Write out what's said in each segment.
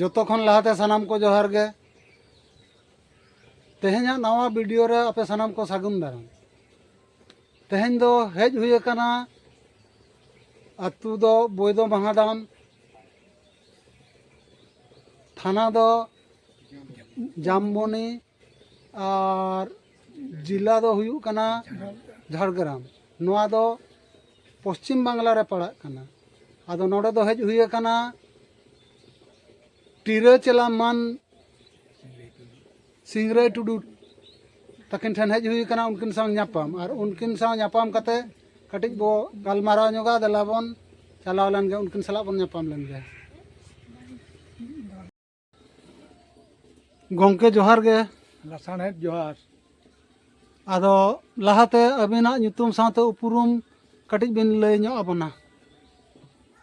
ᱡᱚᱛᱚ ᱠᱷᱚᱱ ᱞᱟᱦᱟᱛᱮ ᱥᱟᱱᱟᱢ ᱠᱚ ᱡᱚᱦᱟᱨ ᱜᱮ ᱛᱮᱦᱮᱧᱟᱜ ᱱᱟᱣᱟ ᱵᱷᱤᱰᱤᱭᱳ ᱨᱮ ᱟᱯᱮ ᱥᱟᱱᱟᱢ ᱠᱚ ᱥᱟᱹᱜᱩᱱ ᱫᱟᱨᱟᱢ ᱛᱮᱦᱮᱧ ᱫᱚ ᱦᱮᱡ ᱦᱩᱭ ᱟᱠᱟᱱᱟ ᱟᱛᱳ ᱫᱚ ᱵᱳᱭᱫᱚ ᱢᱟᱦᱟᱰᱟᱢ ᱛᱷᱟᱱᱟ ᱫᱚ ᱡᱟᱢᱵᱚᱱᱤ ᱟᱨ ᱡᱮᱞᱟ ᱫᱚ ᱦᱩᱭᱩᱜ ᱠᱟᱱᱟ ᱡᱷᱟᱲᱜᱨᱟᱢ ᱱᱚᱣᱟ ᱫᱚ ᱯᱚᱥᱪᱤᱢ ᱵᱟᱝᱞᱟ ᱨᱮ ᱯᱟᱲᱟᱜ ᱠᱟᱱᱟ ᱟᱫᱚ ᱱᱚᱰᱮ ᱫᱚ ᱦᱮᱡ ᱦᱩᱭ ᱟᱠᱟᱱᱟ ᱴᱤᱨᱟᱹ ᱪᱮᱞᱟ ᱢᱟᱱ ᱥᱤᱝᱨᱟᱹᱭ ᱴᱩᱰᱩ ᱛᱟᱹᱠᱤᱱ ᱴᱷᱮᱱ ᱦᱮᱡ ᱦᱩᱭ ᱟᱠᱟᱱᱟ ᱩᱱᱠᱤᱱ ᱥᱟᱶ ᱧᱟᱯᱟᱢ ᱟᱨ ᱩᱱᱠᱤᱱ ᱥᱟᱶ ᱧᱟᱯᱟᱢ ᱠᱟᱛᱮ ᱠᱟᱹᱴᱤᱡ ᱵᱚ ᱜᱟᱞᱢᱟᱨᱟᱣ ᱧᱚᱜᱟ ᱫᱮᱞᱟ ᱵᱚᱱ ᱪᱟᱞᱟᱣ ᱞᱮᱱ ᱜᱮ ᱩᱱᱠᱤᱱ ᱥᱟᱞᱟᱜ ᱵᱚᱱ ᱧᱟᱯᱟᱢ ᱞᱮᱱ ᱜᱮ ᱜᱚᱝᱠᱮ ᱡᱚᱦᱟᱨ ᱜᱮ ᱞᱟᱥᱟᱬᱦᱮᱫ ᱡᱚᱦᱟᱨ ᱟᱫᱚ ᱞᱟᱦᱟᱛᱮ ᱟᱹᱵᱤᱱᱟᱜ ᱧᱩᱛᱩᱢ ᱥᱟᱶᱛᱮ ᱩᱯᱨᱩᱢ ᱠᱟᱹᱴᱤᱡ ᱵᱤᱱ ᱞᱟᱹᱭ ᱧᱚᱜ ᱟᱵᱚᱱᱟ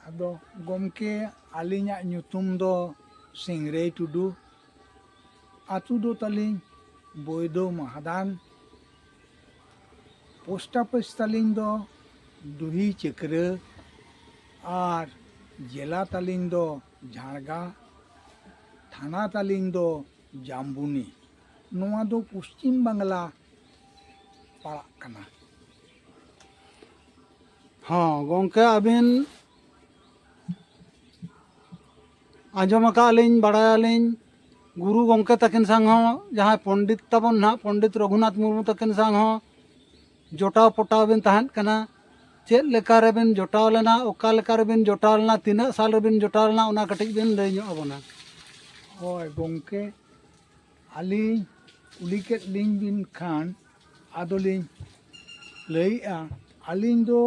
ᱟᱫᱚ ᱜᱚᱢᱠᱮ ᱟᱹᱞᱤᱧᱟᱜ ᱧᱩᱛᱩᱢ ᱫᱚ ᱥᱤᱝᱨᱟᱹᱭ ᱴᱩᱰᱩ ᱟᱛᱳ ᱫᱚ ᱛᱟᱹᱞᱤᱧ ᱵᱳᱭᱫᱳ ᱢᱟᱦᱟᱫᱟᱱ ᱯᱳᱥᱴ ᱚᱯᱷᱤᱥ ᱛᱟᱹᱞᱤᱧ ᱫᱚ ᱰᱩᱦᱤ ᱪᱟᱹᱠᱨᱟᱹ ᱟᱨ ᱡᱮᱞᱟ ᱛᱟᱹᱞᱤᱧ ᱫᱚ ᱡᱷᱟᱲᱜᱟ ᱛᱷᱟᱱᱟ ᱛᱟᱹᱞᱤᱧ ᱫᱚ ᱡᱟᱢᱵᱩᱱᱤ ᱱᱚᱣᱟ ᱫᱚ ᱯᱚᱥᱪᱤᱢ ᱵᱟᱝᱞᱟ ᱯᱟᱲᱟᱜ ᱠᱟᱱᱟ ᱦᱚᱸ ᱜᱚᱢᱠᱮ ᱟᱹᱵᱤᱱ ᱟᱸᱡᱚᱢ ᱟᱠᱟᱫ ᱟᱹᱞᱤᱧ ᱵᱟᱲᱟᱭᱟᱞᱤᱧ ᱜᱩᱨᱩ ᱜᱚᱢᱠᱮ ᱛᱟᱹᱠᱤᱱ ᱥᱟᱶ ᱦᱚᱸ ᱡᱟᱦᱟᱸᱭ ᱯᱚᱱᱰᱤᱛ ᱛᱟᱵᱚᱱ ᱱᱟᱦᱟᱜ ᱯᱚᱱᱰᱤᱛ ᱨᱚᱜᱷᱩᱱᱟᱛᱷ ᱢᱩᱨᱢᱩ ᱛᱟᱹᱠᱤᱱ ᱥᱟᱶ ᱦᱚᱸ ᱡᱚᱴᱟᱣ ᱯᱚᱴᱟᱣ ᱵᱤᱱ ᱛᱟᱦᱮᱸᱫ ᱠᱟᱱᱟ ᱪᱮᱫ ᱞᱮᱠᱟ ᱨᱮᱵᱤᱱ ᱡᱚᱴᱟᱣ ᱞᱮᱱᱟ ᱚᱠᱟ ᱞᱮᱠᱟ ᱨᱮᱵᱤᱱ ᱡᱚᱴᱟᱣ ᱞᱮᱱᱟ ᱛᱤᱱᱟᱹᱜ ᱥᱟᱞ ᱨᱮᱵᱤᱱ ᱡᱚᱴᱟᱣ ᱞᱮᱱᱟ ᱚᱱᱟ ᱠᱟᱹᱴᱤᱡ ᱵᱤᱱ ᱞᱟᱹᱭ ᱧᱚᱜ ᱟᱵᱚᱱᱟ ᱦᱳᱭ ᱜᱚᱢᱠᱮ ᱟᱹᱞᱤᱧ ᱠᱩᱞᱤ ᱠᱮᱫ ᱞᱤᱧ ᱵᱤᱱ ᱠᱷᱟᱱ ᱟᱫᱚᱞᱤᱧ ᱞᱟᱹᱭᱮᱫᱼᱟ ᱟᱹᱞᱤᱧ ᱫᱚ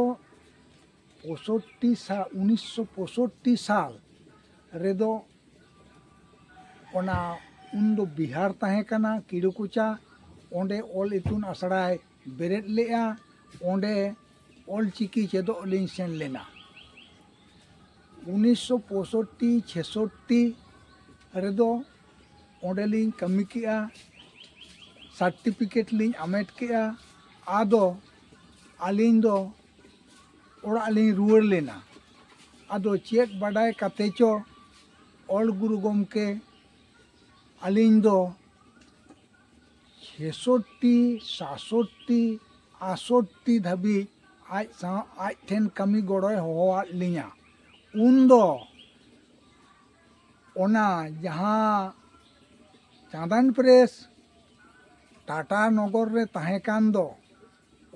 ᱯᱚᱸᱥᱚᱴᱴᱤ ᱥᱟᱞ ᱩᱱᱤᱥᱥᱚ ᱯᱚᱸᱥᱚᱴᱴᱤ ᱥᱟᱞ ᱨᱮᱫᱚ ᱚᱱᱟ ᱩᱱᱫᱚ ᱵᱤᱦᱟᱨ ᱛᱟᱦᱮᱸ ᱠᱟᱱᱟ ᱠᱤᱲᱩᱠᱚᱪᱟ ᱚᱸᱰᱮ ᱚᱞ ᱤᱛᱩᱱ ᱟᱥᱲᱟᱭ ᱵᱮᱨᱮᱫ ᱞᱮᱫᱼᱟ ᱚᱸᱰᱮ ᱚᱞ ᱪᱤᱠᱤ ᱪᱮᱫᱚᱜ ᱞᱤᱧ ᱥᱮᱱ ᱞᱮᱱᱟ ᱩᱱᱤᱥᱥᱚ ᱯᱚᱸᱥᱚᱴᱴᱤ ᱪᱷᱮᱥᱚᱴᱴᱤ ᱨᱮᱫᱚ ᱚᱸᱰᱮ ᱞᱤᱧ ᱠᱟᱹᱢᱤ ᱠᱮᱫᱼᱟ ᱥᱟᱨᱴᱤᱯᱷᱤᱠᱮᱴ ᱞᱤᱧ ᱦᱟᱢᱮᱴ ᱠᱮᱫᱼᱟ ᱟᱫᱚ ᱟᱹᱞᱤᱧ ᱫᱚ ᱚᱲᱟᱜ ᱞᱤᱧ ᱨᱩᱣᱟᱹᱲ ᱞᱮᱱᱟ ᱟᱫᱚ ᱪᱮᱫ ᱵᱟᱰᱟᱭ ᱠᱟᱛᱮ ᱪᱚ ᱚᱞ ᱜᱩᱨᱩ ᱜᱚᱢᱠᱮ ᱟᱹᱞᱤᱧ ᱫᱚ ᱪᱷᱮᱥᱚᱴᱴᱤ ᱥᱟᱛᱥᱚᱴᱴᱤ ᱟᱴᱥᱚᱴᱴᱤ ᱫᱷᱟᱹᱵᱤᱡ ᱟᱡ ᱥᱟᱶ ᱟᱡ ᱴᱷᱮᱱ ᱠᱟᱹᱢᱤ ᱜᱚᱲᱚᱭ ᱦᱚᱦᱚᱣᱟᱫ ᱞᱤᱧᱟ ᱩᱱ ᱫᱚ ᱚᱱᱟ ᱡᱟᱦᱟᱸ ᱪᱟᱸᱫᱟᱱ ᱯᱨᱮᱥ ᱴᱟᱴᱟ ᱱᱚᱜᱚᱨ ᱨᱮ ᱛᱟᱦᱮᱸ ᱠᱟᱱ ᱫᱚ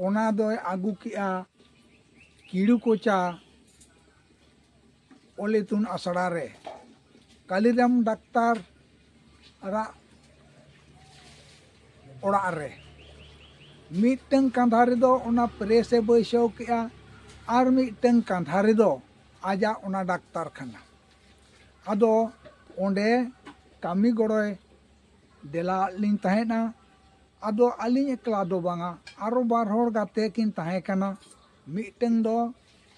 ᱚᱱᱟ ᱫᱚᱭ ᱟᱹᱜᱩ ᱠᱮᱜᱼᱟ ᱠᱤᱲᱩ ᱠᱚᱪᱟ ᱚᱞ ᱤᱛᱩᱱ ᱟᱥᱲᱟ ᱨᱮ ᱠᱟᱞᱤᱨᱟᱢ ᱰᱟᱠᱛᱟᱨ ᱟᱜ ᱚᱲᱟᱜ ᱨᱮ ᱢᱤᱫᱴᱟᱝ ᱠᱟᱸᱫᱷᱟ ᱨᱮᱫᱚ ᱚᱱᱟ ᱯᱨᱮᱥ ᱮ ᱵᱟᱹᱭᱥᱟᱹᱣ ᱠᱮᱜᱼᱟ ᱟᱨ ᱢᱤᱫᱴᱟᱝ ᱠᱟᱸᱫᱷᱟ ᱨᱮᱫᱚ ᱟᱡᱟᱜ ᱚᱱᱟ ᱰᱟᱠᱛᱟᱨ ᱠᱷᱟᱱᱟ ᱟᱫᱚ ᱚᱸᱰᱮ ᱠᱟᱹᱢᱤ ᱜᱚᱲᱚᱭ ᱫᱮᱞᱟ ᱟᱫ ᱞᱤᱧ ᱛᱟᱦᱮᱸᱫᱼᱟ ᱟᱫᱚ ᱟᱹᱞᱤᱧ ᱮᱠᱞᱟ ᱫᱚ ᱵᱟᱝᱟ ᱟᱨᱚ ᱵᱟᱨ ᱦᱚᱲ ᱜᱟᱛᱮ ᱠᱤᱱ ᱛᱟᱦᱮᱸ ᱠᱟᱱᱟ ᱢᱤᱫᱴᱟᱹᱝ ᱫᱚ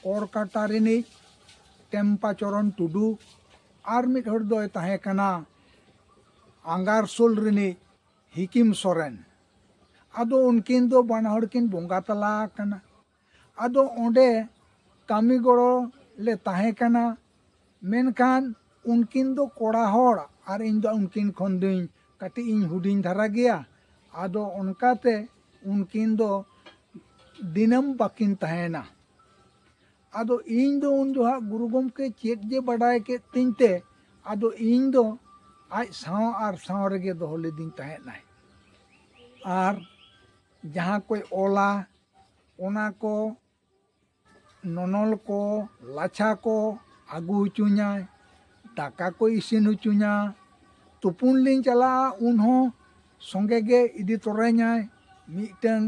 ᱠᱚᱨᱠᱟᱴᱟ ᱨᱤᱱᱤᱡ ᱴᱮᱢᱯᱟ ᱪᱚᱨᱚᱱ ᱴᱩᱰᱩ ᱟᱨ ᱢᱤᱫ ᱦᱚᱲ ᱫᱚᱭ ᱛᱟᱦᱮᱸ ᱠᱟᱱᱟ ᱟᱸᱜᱟᱨᱥᱳᱞ ᱨᱤᱱᱤᱡ ᱦᱤᱠᱤᱢ ᱥᱚᱨᱮᱱ ᱟᱫᱚ ᱩᱱᱠᱤᱱ ᱫᱚ ᱵᱟᱱᱟ ᱦᱚᱲ ᱠᱤᱱ ᱵᱚᱸᱜᱟ ᱛᱟᱞᱟ ᱟᱠᱟᱱᱟ ᱟᱫᱚ ᱚᱸᱰᱮ ᱠᱟᱹᱢᱤ ᱜᱚᱲᱚ ᱞᱮ ᱛᱟᱦᱮᱸ ᱠᱟᱱᱟ ᱢᱮᱱᱠᱷᱟᱱ ᱩᱱᱠᱤᱱ ᱫᱚ ᱠᱚᱲᱟ ᱦᱚᱲ ᱟᱨ ᱤᱧ ᱫᱚ ᱩᱱᱠᱤᱱ ᱠᱷᱚᱱ ᱫᱚᱧ ᱠᱟᱹᱴᱤᱡ ᱤᱧ ᱦᱩᱰᱤᱧ ᱫᱷᱟᱨᱟ ᱜᱮᱭᱟ ᱟᱫᱚ ᱚᱱᱠᱟᱛᱮ ᱩᱱᱠᱤᱱ ᱫᱚ ᱫᱤᱱᱟᱹᱢ ᱵᱟᱹᱠᱤᱱ ᱛᱟᱦᱮᱱᱟ ᱟᱫᱚ ᱤᱧ ᱫᱚ ᱩᱱ ᱡᱚᱦᱟᱜ ᱜᱩᱨᱩ ᱜᱚᱢᱠᱮ ᱪᱮᱫ ᱡᱮ ᱵᱟᱰᱟᱭ ᱠᱮᱫ ᱛᱤᱧ ᱛᱮ ᱟᱫᱚ ᱤᱧ ᱫᱚ ᱟᱡ ᱥᱟᱶ ᱟᱨ ᱥᱟᱶ ᱨᱮᱜᱮ ᱫᱚᱦᱚ ᱞᱤᱫᱤᱧ ᱛᱟᱦᱮᱸᱫ ᱟᱭ ᱟᱨ ᱡᱟᱦᱟᱸ ᱠᱚᱭ ᱚᱞᱟ ᱚᱱᱟ ᱠᱚ ᱱᱚᱱᱚᱞ ᱠᱚ ᱞᱟᱪᱷᱟ ᱠᱚ ᱟᱹᱜᱩ ᱦᱚᱪᱚᱧᱟᱭ ᱫᱟᱠᱟ ᱠᱚᱭ ᱤᱥᱤᱱ ᱦᱚᱪᱚᱧᱟ ᱛᱩᱯᱩᱱ ᱞᱤᱧ ᱪᱟᱞᱟᱜᱼᱟ ᱩᱱ ᱦᱚᱸ ᱥᱚᱸᱜᱮ ᱜᱮ ᱤᱫᱤ ᱛᱚᱨᱟᱧᱟᱭ ᱢᱤᱫᱴᱟᱹᱝ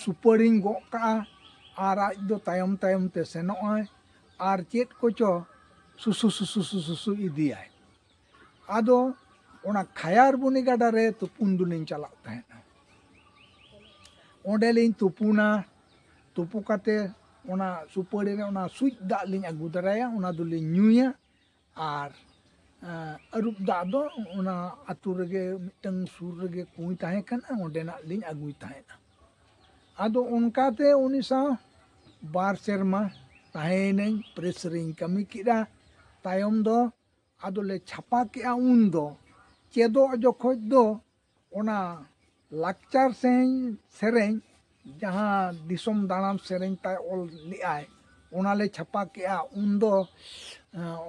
ᱥᱩᱯᱟᱹᱲᱤᱧ ᱜᱚᱜ ᱠᱟᱜᱼᱟ ᱟᱨ ᱟᱡ ᱫᱚ ᱛᱟᱭᱚᱢ ᱛᱟᱭᱚᱢ ᱛᱮ ᱥᱮᱱᱚᱜᱼᱟᱭ ᱟᱨ ᱪᱮᱫ ᱠᱚᱪᱚ ᱥᱩᱥᱩ ᱥᱩᱥᱩ ᱥᱩᱥᱩ ᱤᱫᱤᱭᱟᱭ ᱟᱫᱚ ᱚᱱᱟ ᱠᱷᱟᱭᱟᱨᱵᱚᱱᱤ ᱜᱟᱰᱟ ᱨᱮ ᱛᱩᱯᱩᱱ ᱫᱚᱞᱤᱧ ᱪᱟᱞᱟᱜ ᱛᱟᱦᱮᱸᱫ ᱚᱸᱰᱮᱞᱤᱧ ᱛᱩᱯᱩᱱᱟ ᱛᱩᱯᱩ ᱠᱟᱛᱮ ᱚᱱᱟ ᱥᱩᱯᱟᱹᱲᱤ ᱨᱮ ᱚᱱᱟ ᱥᱩᱡ ᱫᱟᱜ ᱞᱤᱧ ᱟᱹᱜᱩ ᱫᱟᱨᱟᱭᱟ ᱚᱱᱟ ᱫᱚᱞᱤᱧ ᱧᱩᱭᱟ ᱟᱨ ᱟᱹᱨᱩᱵ ᱫᱟᱜ ᱫᱚ ᱚᱱᱟ ᱟᱛᱳ ᱨᱮᱜᱮ ᱢᱤᱫᱴᱟᱝ ᱥᱩᱨ ᱨᱮᱜᱮ ᱠᱩᱸᱭ ᱛᱟᱦᱮᱸ ᱠᱟᱱᱟ ᱚᱸᱰᱮᱱᱟᱜ ᱞᱤᱧ ᱟᱹᱜᱩᱭ ᱛᱟᱦᱮᱸᱫᱼᱟ ᱟᱫᱚ ᱚᱱᱠᱟᱛᱮ ᱩᱱᱤ ᱥᱟᱶ ᱵᱟᱨ ᱥᱮᱨᱢᱟ ᱛᱟᱦᱮᱸᱭᱮᱱᱟᱹᱧ ᱯᱨᱮᱥ ᱨᱤᱧ ᱠᱟᱹᱢᱤ ᱠᱮᱫᱟ ᱛᱟᱭᱚᱢ ᱫᱚ ᱟᱫᱚ ᱞᱮ ᱪᱷᱟᱯᱟ ᱠᱮᱫᱼᱟ ᱩᱱ ᱫᱚ ᱪᱮᱫᱚᱜ ᱡᱚᱠᱷᱚᱱ ᱫᱚ ᱚᱱᱟ ᱞᱟᱠᱪᱟᱨ ᱥᱮᱨᱮᱧ ᱥᱮᱨᱮᱧ ᱡᱟᱦᱟᱸ ᱫᱤᱥᱚᱢ ᱫᱟᱬᱟᱱ ᱥᱮᱨᱮᱧ ᱛᱟᱭ ᱚᱞ ᱞᱮᱫᱟᱭ ᱚᱱᱟ ᱞᱮ ᱪᱷᱟᱯᱟ ᱠᱮᱫᱼᱟ ᱩᱱ ᱫᱚ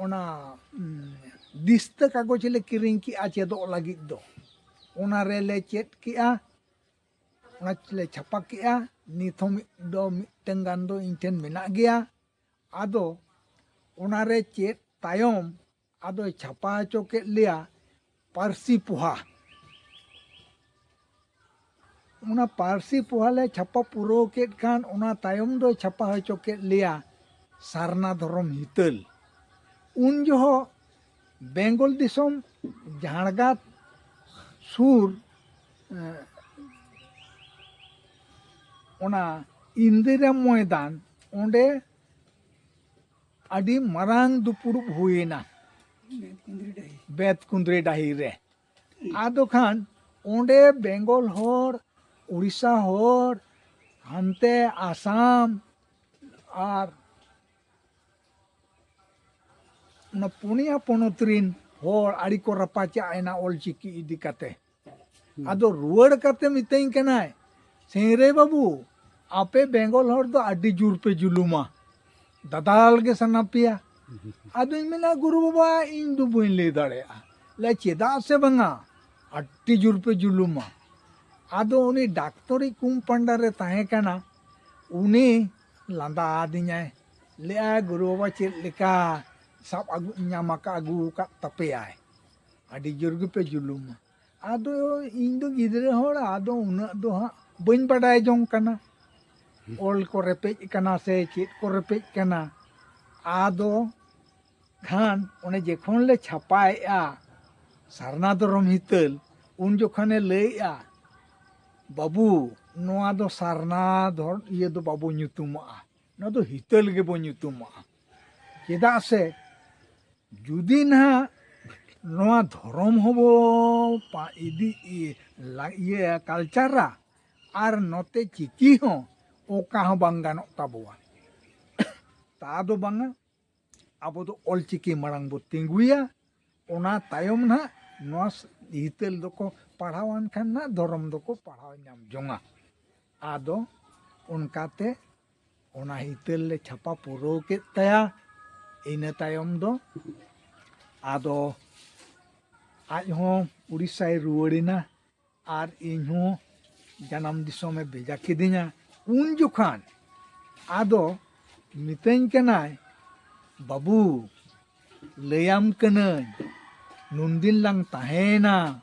ᱚᱱᱟ ᱫᱤᱥᱛᱟᱹ ᱠᱟᱜᱚᱡᱽ ᱞᱮ ᱠᱤᱨᱤᱧ ᱠᱮᱫᱼᱟ ᱪᱮᱫᱚᱜ ᱞᱟᱹᱜᱤᱫ ᱫᱚ ᱚᱱᱟ ᱨᱮᱞᱮ ᱪᱮᱫ ᱠᱮᱫᱼᱟ ᱚᱱᱟ ᱞᱮ ᱪᱷᱟᱯᱟ ᱠᱮᱫᱼᱟ ᱱᱤᱛ ᱦᱚᱸ ᱢᱤᱫ ᱫᱚ ᱢᱤᱫᱴᱟᱝ ᱜᱟᱱ ᱫᱚ ᱤᱧ ᱴᱷᱮᱱ ᱢᱮᱱᱟᱜ ᱜᱮᱭᱟ ᱟᱫᱚ ᱚᱱᱟ ᱨᱮ ᱪᱮᱫ ᱛᱟᱭᱚᱢ ᱟᱫᱚᱭ ᱪᱷᱟᱯᱟ ᱦᱚᱪᱚ ᱠᱮᱫ ᱞᱮᱭᱟ ᱯᱟᱹᱨᱥᱤ ᱯᱚᱦᱟ ᱚᱱᱟ ᱯᱟᱹᱨᱥᱤ ᱯᱚᱦᱟ ᱞᱮ ᱪᱷᱟᱯᱟ ᱯᱩᱨᱟᱹᱣ ᱠᱮᱫ ᱠᱷᱟᱱ ᱚᱱᱟ ᱛᱟᱭᱚᱢ ᱫᱚᱭ ᱪᱷᱟᱯᱟ ᱦᱚᱪᱚ ᱠᱮᱫ ᱞᱮᱭᱟ ᱥᱟᱨᱱᱟ ᱫᱷᱚᱨᱚᱢ ᱦᱤᱛᱟᱹᱞ ᱩᱱ ᱡᱚᱦᱚᱜ ᱵᱮᱝᱜᱚᱞ ᱫᱤᱥᱚᱢ ᱡᱷᱟᱲᱜᱟᱫ ᱥᱩᱨ ᱚᱱᱟ ᱤᱱᱫᱤᱨᱟ ᱢᱚᱭᱫᱟᱱ ᱚᱸᱰᱮ ᱟᱹᱰᱤ ᱢᱟᱨᱟᱝ ᱫᱩᱯᱩᱲᱩᱵ ᱦᱩᱭᱮᱱᱟ ᱵᱮᱛ ᱠᱩᱸᱫᱽᱨᱤ ᱰᱟᱹᱦᱤ ᱨᱮ ᱟᱫᱚ ᱠᱷᱟᱱ ᱚᱸᱰᱮ ᱵᱮᱝᱜᱚᱞ ᱦᱚᱲ ᱩᱲᱤᱥᱥᱟ ᱦᱚᱲ ᱦᱟᱱᱛᱮ ᱟᱥᱟᱢ ᱟᱨ ᱚᱱᱟ ᱯᱩᱱᱭᱟ ᱯᱚᱱᱚᱛ ᱨᱤᱱ ᱦᱚᱲ ᱟᱹᱰᱤ ᱠᱚ ᱨᱟᱯᱟᱪᱟᱜ ᱮᱱᱟ ᱚᱞᱪᱤᱠᱤ ᱤᱫᱤ ᱠᱟᱛᱮ ᱟᱫᱚ ᱨᱩᱣᱟᱹᱲ ᱠᱟᱛᱮ ᱢᱤᱛᱟᱹᱧ ᱠᱟᱱᱟᱭ ᱥᱤᱝᱨᱮ ᱵᱟᱹᱵᱩ ᱟᱯᱮ ᱵᱮᱝᱜᱚᱞ ᱦᱚᱲ ᱫᱚ ᱟᱹᱰᱤ ᱡᱳᱨ ᱯᱮ ᱡᱩᱞᱩᱢᱟ ᱫᱟᱫᱟᱞ ᱜᱮ ᱥᱟᱱᱟ ᱯᱮᱭᱟ ᱟᱫᱚᱧ ᱢᱮᱱᱟ ᱜᱩᱨᱩ ᱵᱟᱵᱟ ᱤᱧ ᱫᱚ ᱵᱟᱹᱧ ᱞᱟᱹᱭ ᱫᱟᱲᱮᱭᱟᱜᱼᱟ ᱞᱮ ᱪᱮᱫᱟᱜ ᱥᱮ ᱵᱟᱝᱟ ᱟᱹᱰᱤ ᱡᱳᱨ ᱯᱮ ᱡᱩᱞᱩᱢᱟ ᱟᱫᱚ ᱩᱱᱤ ᱰᱟᱠᱛᱚᱨᱤ ᱠᱩᱢᱯᱟᱱᱰᱟ ᱨᱮ ᱛᱟᱦᱮᱸ ᱠᱟᱱᱟ ᱩᱱᱤ ᱞᱟᱸᱫᱟ ᱟᱹᱫᱤᱧᱟᱭ ᱞᱟᱹᱭ ᱮᱫᱟᱭ ᱜᱩᱨᱩ ᱵᱟᱵᱟ ᱪᱮᱫ ᱞᱮᱠᱟ ᱥᱟᱵ ᱟᱹᱜᱩ ᱧᱟᱢ ᱟᱠᱟᱫ ᱟᱹᱜᱩ ᱟᱠᱟᱫ ᱛᱟᱯᱮᱭᱟᱭ ᱟᱹᱰᱤ ᱡᱳᱨ ᱜᱮᱯᱮ ᱡᱩᱞᱩᱢᱟ ᱟᱫᱚ ᱤᱧ ᱫᱚ ᱜᱤᱫᱽᱨᱟᱹ ᱦᱚᱲ ᱟᱫᱚ ᱩᱱᱟᱹᱜ ᱫᱚ ᱦᱟᱸᱜ ᱵᱟᱹᱧ ᱵᱟᱰᱟᱭ ᱡᱚᱝ ᱠᱟᱱᱟ ᱚᱞ ᱠᱚ ᱨᱮᱯᱮᱡ ᱟᱠᱟᱱᱟ ᱥᱮ ᱪᱮᱫ ᱠᱚ ᱨᱮᱯᱮᱡ ᱟᱠᱟᱱᱟ ᱟᱫᱚ ᱠᱷᱟᱱ ᱚᱱᱮ ᱡᱚᱠᱷᱚᱱ ᱞᱮ ᱪᱷᱟᱯᱟᱭᱮᱫᱼᱟ ᱥᱟᱨᱱᱟ ᱫᱷᱚᱨᱚᱢ ᱦᱤᱛᱟᱹᱞ ᱩᱱ ᱡᱚᱠᱷᱚᱱᱮ ᱞᱟᱹᱭᱮᱫᱼᱟ ᱵᱟᱹᱵᱩ ᱱᱚᱣᱟ ᱫᱚ ᱥᱟᱨᱱᱟ ᱫᱷᱚᱨ ᱤᱭᱟᱹ ᱫᱚ ᱵᱟᱵᱚ ᱧᱩᱛᱩᱢᱟᱜᱼᱟ ᱱᱚᱣᱟ ᱫᱚ ᱦᱤᱛᱟᱹᱞ ᱜᱮᱵᱚ ᱧᱩᱛᱩᱢᱟᱜᱼᱟ ᱪᱮᱫᱟᱜ ᱥᱮ ᱡᱩᱫᱤ ᱱᱟᱦᱟᱜ ᱱᱚᱣᱟ ᱫᱷᱚᱨᱚᱢ ᱦᱚᱸᱵᱚ ᱤᱫᱤ ᱤᱭᱟᱹ ᱠᱟᱞᱪᱟᱨᱟ ᱟᱨ ᱱᱚᱛᱮ ᱪᱤᱠᱤ ᱦᱚᱸ ᱚᱠᱟ ᱦᱚᱸ ᱵᱟᱝ ᱜᱟᱱᱚᱜ ᱛᱟᱵᱚᱣᱟ ᱛᱟ ᱫᱚ ᱵᱟᱝᱟ ᱟᱵᱚ ᱫᱚ ᱚᱞ ᱪᱤᱠᱤ ᱢᱟᱲᱟᱝ ᱵᱚ ᱛᱤᱸᱜᱩᱭᱟ ᱚᱱᱟ ᱛᱟᱭᱚᱢ ᱱᱟᱦᱟᱜ ᱱᱚᱣᱟ ᱦᱤᱛᱟᱹᱞ ᱫᱚᱠᱚ ᱯᱟᱲᱦᱟᱣᱟᱱ ᱠᱷᱟᱱ ᱱᱟᱦᱟᱜ ᱫᱷᱚᱨᱚᱢ ᱫᱚᱠᱚ ᱯᱟᱲᱦᱟᱣ ᱧᱟᱢ ᱡᱚᱝᱟ ᱟᱫᱚ ᱚᱱᱠᱟᱛᱮ ᱚᱱᱟ ᱦᱤᱛᱟᱹᱞ ᱞᱮ ᱪᱷᱟᱯᱟ ᱯᱩᱨᱟᱹᱣ ᱠᱮᱫ ᱛᱟᱭᱟ ᱤᱱᱟᱹ ᱛᱟᱭᱚᱢ ᱫᱚ ᱟᱫᱚ ᱟᱡ ᱦᱚᱸ ᱩᱲᱤᱥᱥᱟᱭ ᱨᱩᱣᱟᱹᱲᱮᱱᱟ ᱟᱨ ᱤᱧ ᱦᱚᱸ ᱡᱟᱱᱟᱢ ᱫᱤᱥᱚᱢᱮ ᱵᱷᱮᱡᱟ ᱠᱤᱫᱤᱧᱟ ᱩᱱ ᱡᱚᱠᱷᱟᱱ ᱟᱫᱚ ᱢᱤᱛᱟᱹᱧ ᱠᱟᱱᱟᱭ ᱵᱟᱹᱵᱩ ᱞᱟᱹᱭᱟᱢ ᱠᱟᱹᱱᱟᱹᱧ ᱱᱩᱱᱫᱤᱱ ᱞᱟᱝ ᱛᱟᱦᱮᱸᱭᱮᱱᱟ